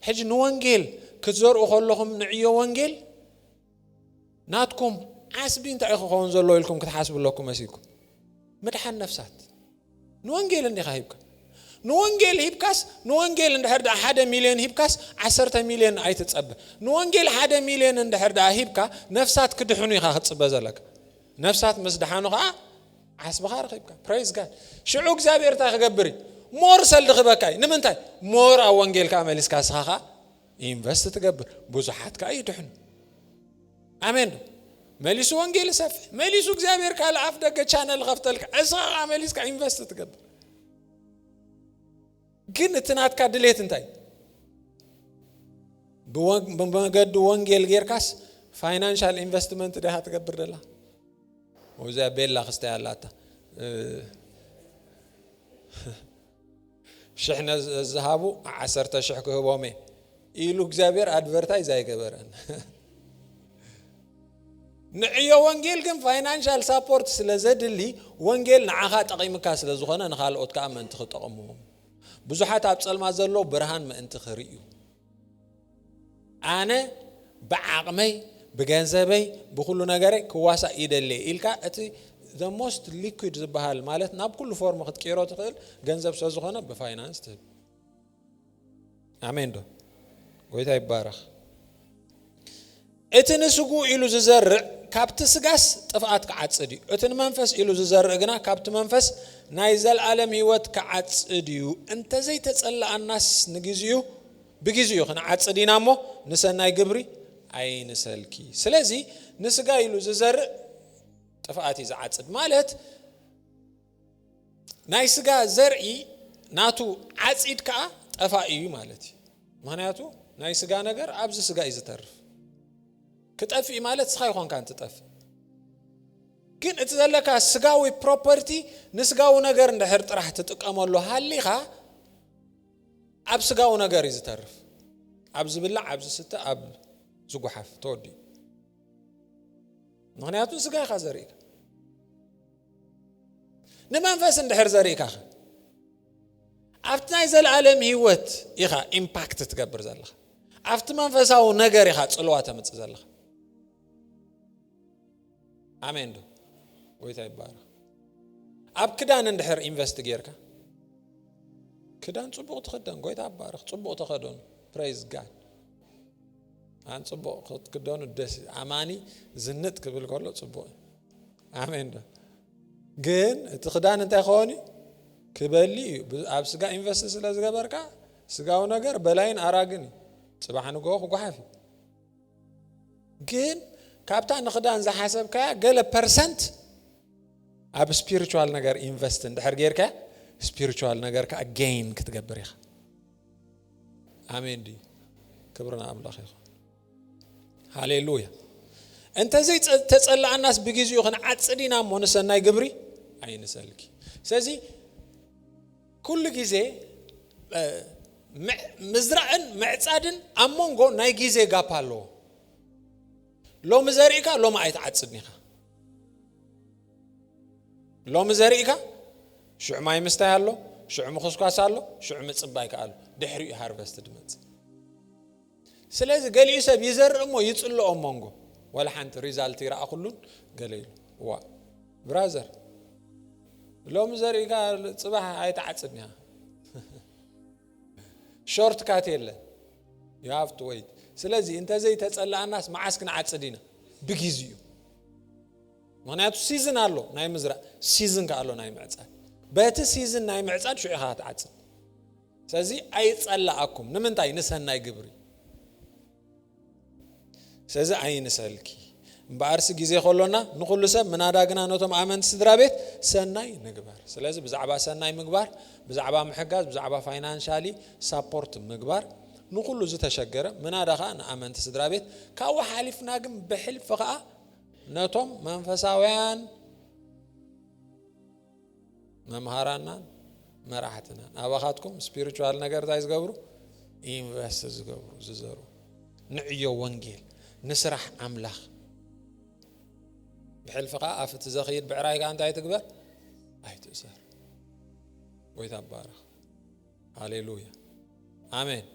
ሕጂ ንወንጌል ክትዘርኡ ከለኹም ንዕዮ ወንጌል ናትኩም ዓስቢ እንታይ እዩ ክኸውን ዘሎ ኢልኩም ክትሓስቡ ኣለኩም መሲልኩም ምድሓን ነፍሳት ንወንጌል እንዲኻ ሂብካ ንወንጌል ሂብካስ ንወንጌል እንድሕር ድኣ ሓደ ሚልዮን ሂብካስ ዓሰርተ ሚልዮን ኣይትጸበ ንወንጌል ሓደ ሚልዮን እንድሕር ድኣ ሂብካ ነፍሳት ክድሕኑ ኢኻ ክትጽበ ዘለካ ነፍሳት ምስ ድሓኑ ከዓ ዓስብኻ ረኺብካ ፕሬዝ ጋድ ሽዑ እግዚኣብሔር እንታይ ክገብር እዩ ሞር ሰልዲ ክበካ እዩ ንምንታይ ሞር ኣብ ወንጌል ከዓ መሊስካ ስኻ ከዓ ኢንቨስት ትገብር ብዙሓት ከዓ ይድሕኑ ኣሜን ዶ መሊሱ ወንጌል ሰፍሕ መሊሱ እግዚኣብሔር ካል ኣፍ ደገ ቻነል ከፍተልካ እስኻ ከዓ መሊስካ ኢንቨስት ትገብር ግን እቲ ናትካ ድሌት እንታይ ብመገዲ ወንጌል ጌርካስ ፋይናንሻል ኢንቨስትመንት ድኻ ትገብር ደላ ወዚኣ ቤላ ክስታይ ኣላታ ሽሕ ነዝሃቡ ዓሰርተ ሽሕ ክህቦም እየ ኢሉ እግዚኣብሔር ኣድቨርታይዝ ኣይገበረን ንዕዮ ወንጌል ግን ፋይናንሻል ሳፖርት ስለ ዘድሊ ወንጌል ንዓኻ ጠቒምካ ስለ ዝኾነ ንካልኦት ከዓ ምእንቲ ክጠቕምዎም ብዙሓት ኣብ ፀልማ ዘሎ ብርሃን ምእንቲ ክርእዩ ኣነ ብዓቕመይ ብገንዘበይ ብኹሉ ነገረይ ክዋሳእ ይደሌ ኢልካ እቲ the most liquid ዝበሃል ማለት ናብ ኩሉ ፎርም ክትቅይሮ ትኽእል ገንዘብ ስለ ዝኾነ ብፋይናንስ ትህብ ኣሜን ዶ ጎይታ ይባረኽ እቲ ንስግኡ ኢሉ ዝዘርእ ካብቲ ስጋስ ጥፍኣት ክዓጽድ እዩ፣ እቲ ንመንፈስ ኢሉ ዝዘርእ ግና ካብቲ መንፈስ ናይ ዘለኣለም ህይወት ክዓጽድ እዩ። እንተ ዘይተጸላኣናስ ንግዜኡ ብግዜኡ ክንዓጽድ ኢና እሞ፣ ንሰናይ ግብሪ ኣይንሰልኪ። ስለዚ ንስጋ ኢሉ ዝዘርእ ጥፍኣት እዩ ዝዓጽድ ማለት፣ ናይ ስጋ ዘርኢ ናቱ ዓጺድ ከኣ ጠፋኢ እዩ ማለት እዩ ምክንያቱ ናይ ስጋ ነገር ኣብዚ ስጋ እዩ ዝተርፍ ክጠፍእ ማለት ስኻ ይኾንካ እንትጠፍእ ግን እቲ ዘለካ ስጋዊ ፕሮፐርቲ ንስጋዊ ነገር እንድሕር ጥራሕ ትጥቀመሉ ሃሊኻ ኣብ ስጋዊ ነገር እዩ ዝተርፍ ኣብ ዝብላዕ ኣብ ዝስተ ኣብ ዝጉሓፍ ተወዲኡ ምክንያቱ ስጋ ኢኻ ዘርእካ ንመንፈስ እንድሕር ዘሪእካኸ ኣብቲ ናይ ዘለኣለም ህይወት ኢኻ ኢምፓክት ትገብር ዘለኻ ኣብቲ መንፈሳዊ ነገር ኢኻ ፅልዋ ተምፅእ ዘለኻ ኣሜን ዶ ጎይታ ይባረኽ ኣብ ክዳን እንድሕር ኢንቨስት ጌርካ ክዳን ፅቡቕ ትኽደን ጎይታ ባርኽ ፅቡቕ ተኸደኑ ፕሬዝ ጋድ ኣን ፅቡቕ ክትክደኑ ደስ ኣማኒ ዝንጥ ክብል ከሎ ፅቡቕ እዩ ኣሜን ዶ ግን እቲ ክዳን እንታይ ክኸውን እዩ ክበሊ እዩ ኣብ ስጋ ኢንቨስት ስለ ዝገበርካ ስጋዊ ነገር በላይን ኣራግን እዩ ፅባሕ ንግሆ ክጓሓፍ እዩ ግን ካብታ ንክዳን ዝሓሰብካያ ገለ ፐርሰንት ኣብ ስፒሪቹዋል ነገር ኢንቨስት እንድሕር ጌርካ ስፒሪቹዋል ነገር ከዓ ጌይን ክትገብር ኢኻ ኣሜን ድዩ ክብሪ ንኣምላኽ ይኹን ሃሌሉያ እንተዘይ ተጸላኣናስ ብግዚኡ ክንዓጽድ ኢና እሞ ንሰናይ ግብሪ ኣይንሰልኪ ስለዚ ኩሉ ግዜ ምዝራእን ምዕጻድን ኣብ መንጎ ናይ ግዜ ጋፕ ኣለዎ ሎሚ ዘርእካ ሎሚ ኣይትዓጽድን ኢኻ ሎሚ ዘርእካ ሽዑ ማይ ምስታይ ኣሎ ሽዑ ምኹስኳስ ኣሎ ሽዑ ምጽባይ ከኣሉ ድሕሪኡ ሃርቨስት ድመጽእ ስለዚ ገሊኡ ሰብ ይዘርእ እሞ ይጽሎ ኣብ መንጎ ዋላ ሓንቲ ሪዛልት ይረኣኹሉን ገለ ኢሉ ዋእ ብራዘር ሎሚ ዘሪእካ ጽባሕ ኣይትዓጽድን ኢኻ ሾርት ካት የለን ዩ ሃቭ ቱ ወይት ስለዚ እንተዘይተጸላኣናስ መዓስ ክንዓጽድ ኢና ብግዜ እዩ ምክንያቱ ሲዝን ኣሎ ናይ ምዝራእ ሲዝን ከ ኣሎ ናይ ምዕፃድ በቲ ሲዝን ናይ ምዕፃድ ሽዑ ኢኻ ትዓፅድ ስለዚ ኣይጸላኣኩም ንምንታይ ንሰናይ ግብሪ ስለዚ ኣይንሰልኪ እምበኣርሲ ግዜ ከሎና ንኹሉ ሰብ ምናዳ ግና ነቶም ኣመንቲ ስድራ ቤት ሰናይ ንግበር ስለዚ ብዛዕባ ሰናይ ምግባር ብዛዕባ ምሕጋዝ ብዛዕባ ፋይናንሻሊ ሳፖርት ምግባር ንኹሉ ዝተሸገረ ምናዳ ከዓ ንኣመንቲ ስድራ ቤት ካብኡ ሓሊፍና ግን ብሕልፊ ከዓ ነቶም መንፈሳውያን መምሃራናን መራሕትናን ኣባኻትኩም ስፒሪቹዋል ነገር እንታይ ዝገብሩ ኢንቨስት ዝገብሩ ዝዘሩ ንዕዮ ወንጌል ንስራሕ ኣምላኽ ብሕልፊ ከዓ ኣፍ እቲ ዘኽይድ ብዕራይ ከዓ እንታይ ትግበር ኣይትእሰር ጎይታ ባረኽ ሃሌሉያ ኣሜን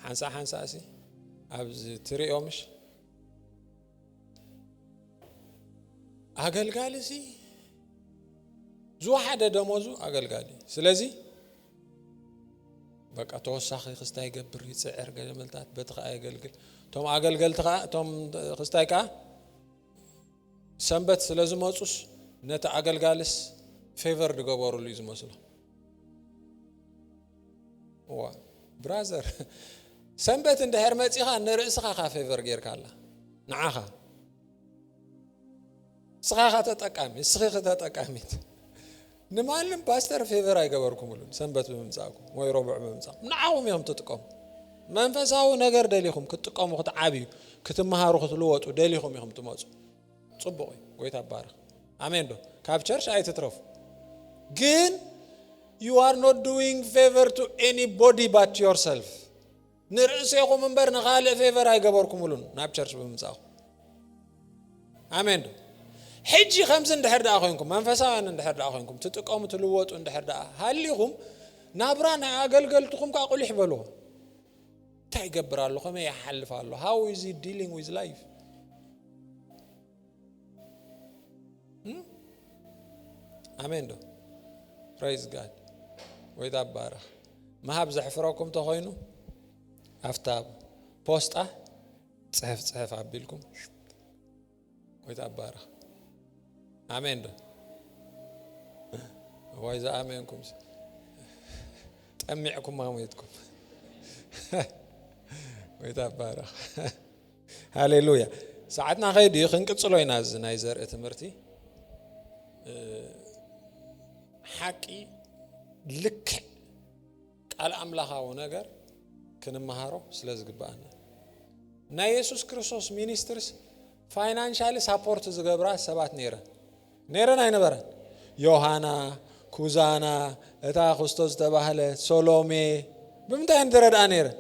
ሓንሳ ሓንሳ እሲ ኣብዚ ትርእዮ ምሽ ኣገልጋሊ ሲ ዝወሓደ ደሞዙ ኣገልጋሊ ስለዚ በቃ ተወሳኺ ክስታይ ገብር ይፅዕር ገመልታት በቲ ከዓ የገልግል እቶም ኣገልገልቲ ከዓ እቶም ክስታይ ከዓ ሰንበት ስለ ዝመፁስ ነቲ ኣገልጋልስ ፌቨር ዝገበሩሉ እዩ ዝመስሎ እዋ ብራዘር ሰንበት እንድሕር መጺኻ ንርእስኻ ካ ፌቨር ጌርካ ኣላ ንዓኻ እስኻ ካ ተጠቃሚ እስኺ ከተጠቃሚት ንማንም ፓስተር ፌቨር ኣይገበርኩምሉን ሰንበት ብምምፃእኩም ወይ ረቡዕ ብምምፃእኩም ንዓኹም እዮም ትጥቀሙ መንፈሳዊ ነገር ደሊኹም ክትጥቀሙ ክትዓብዩ ክትመሃሩ ክትልወጡ ደሊኹም ኢኹም ትመፁ ፅቡቅ እዩ ጎይታ ባርኽ ኣሜን ዶ ካብ ቸርች ኣይትትረፉ ግን you are not doing favor to anybody but yourself ንርእሴኹም እምበር ንኻልእ ፌቨር ኣይገበርኩምሉን ናብ ቸርች ብምምጻእኹም ኣሜን ዶ ሕጂ ከምዚ እንድሕር ደኣ ኮንኩም መንፈሳውያን እንድሕር ደኣ ኮንኩም ትጥቀሙ ትልወጡ እንድሕር ደኣ ሃሊኹም ናብራ ናይ ኣገልገልትኹም ከዓ ቁሊሕ በልዎ እንታይ ይገብር ኣሎ ከመይ ይሓልፍ ኣሎ ሃው ኢዝ ዲሊንግ ዊዝ ላይፍ ኣሜን ዶ ፕሬዝ ጋድ ወይታ ባረኽ ምሃብ ዘሕፍረኩም ተኾይኑ ኣብታ ፖስጣ ፅሕፍ ፅሕፍ ኣቢልኩም ጎይታ ይባረኽ። ኣሜን ዶ ወይ ዝኣመንኩም ጠሚዕኩም ኣሞትኩም። ጎይታ ይባረኽ። ሃሌሉያ። ሰዓትና ከይዱ እዩ ክንቅፅሎ ኢና እዚ ናይ ዘርኢ ትምህርቲ ሓቂ ልክዕ ቃል ኣምላኻዊ ነገር ክንመሃሮ ስለ ዝግብኣና ናይ የሱስ ክርስቶስ ሚኒስትርስ ፋይናንሻሊ ሳፖርት ዝገብራ ሰባት ነይረን ነይረን ኣይነበረን ዮሃና ኩዛና እታ ክስቶ ዝተባህለ ሶሎሜ ብምንታይ እየን ዝረድኣ ነይረን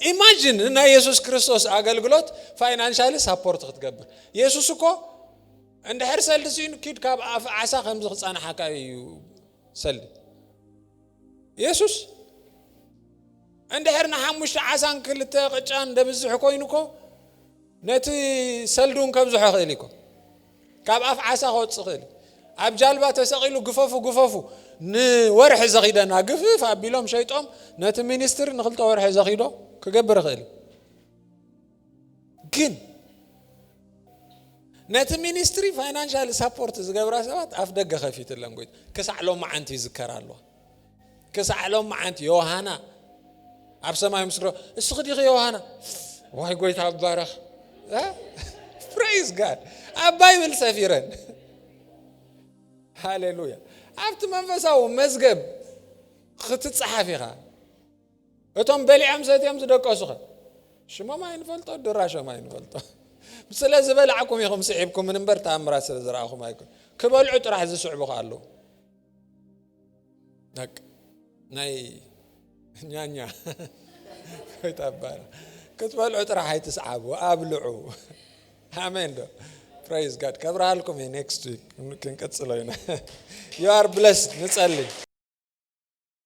ኢማጂን ንናይ የሱስ ክርስቶስ ኣገልግሎት ፋይናንሻሊ ሳፖርት ክትገብር የሱስ እኮ እንድሕር ሰልዲ ስኢኑ ኪድ ካብ ኣፍ ዓሳ ከምዚ ክፀናሓካ እዩ ሰልዲ የሱስ እንድሕር ንሓሙሽተ ዓሳን ክልተ ቅጫን ደብዝሕ ኮይኑ እኮ ነቲ ሰልዱን ከብዝሖ ክእል እኮ ካብ ኣፍ ዓሳ ክወፅእ ክእል ኣብ ጃልባ ተሰቂሉ ግፈፉ ግፈፉ ንወርሒ ዘኺደና ግፍፍ ኣቢሎም ሸይጦም ነቲ ሚኒስትሪ ንክልተ ወርሒ ዘኺዶ ክገብር ክእል ግን ነቲ ሚኒስትሪ ፋይናንሻል ሳፖርት ዝገብራ ሰባት ኣፍ ደገ ከፊትለን ጎይታ ክሳዕ ሎም መዓንቲ ይዝከር ኣለዋ ክሳዕ ሎም መዓንቲ ዮሃና ኣብ ሰማይ ምስክሮ እስኺ ዲኺ ዮሃና ዋይ ጎይታ ኣባረኽ ፕሬዝ ጋድ ኣብ ባይብል ሰፊረን ሃሌሉያ ኣብቲ መንፈሳዊ መዝገብ ክትፀሓፍ ኢኻ እቶም በሊዖም ሰትዮም ዝደቀሱኸ ሽሞም ኣይንፈልጦ ድራሾም ኣይንፈልጦ ስለ ዝበላዕኩም ኢኹም ስዒብኩምን እምበር ተኣምራት ስለ ዝረኣኹም ኣይኮን ክበልዑ ጥራሕ ዝስዕቡ ከ ኣለዉ ናይ ኛኛ ይታባር ክትበልዑ ጥራሕ ኣይትስዓቡ ኣብልዑ ኣሜን ዶ ፕራይዝ ጋድ ከብርሃልኩም እየ ኔክስት ዊክ ክንቅፅሎ ኢና ዩ ኣር ብለስድ ንፀልይ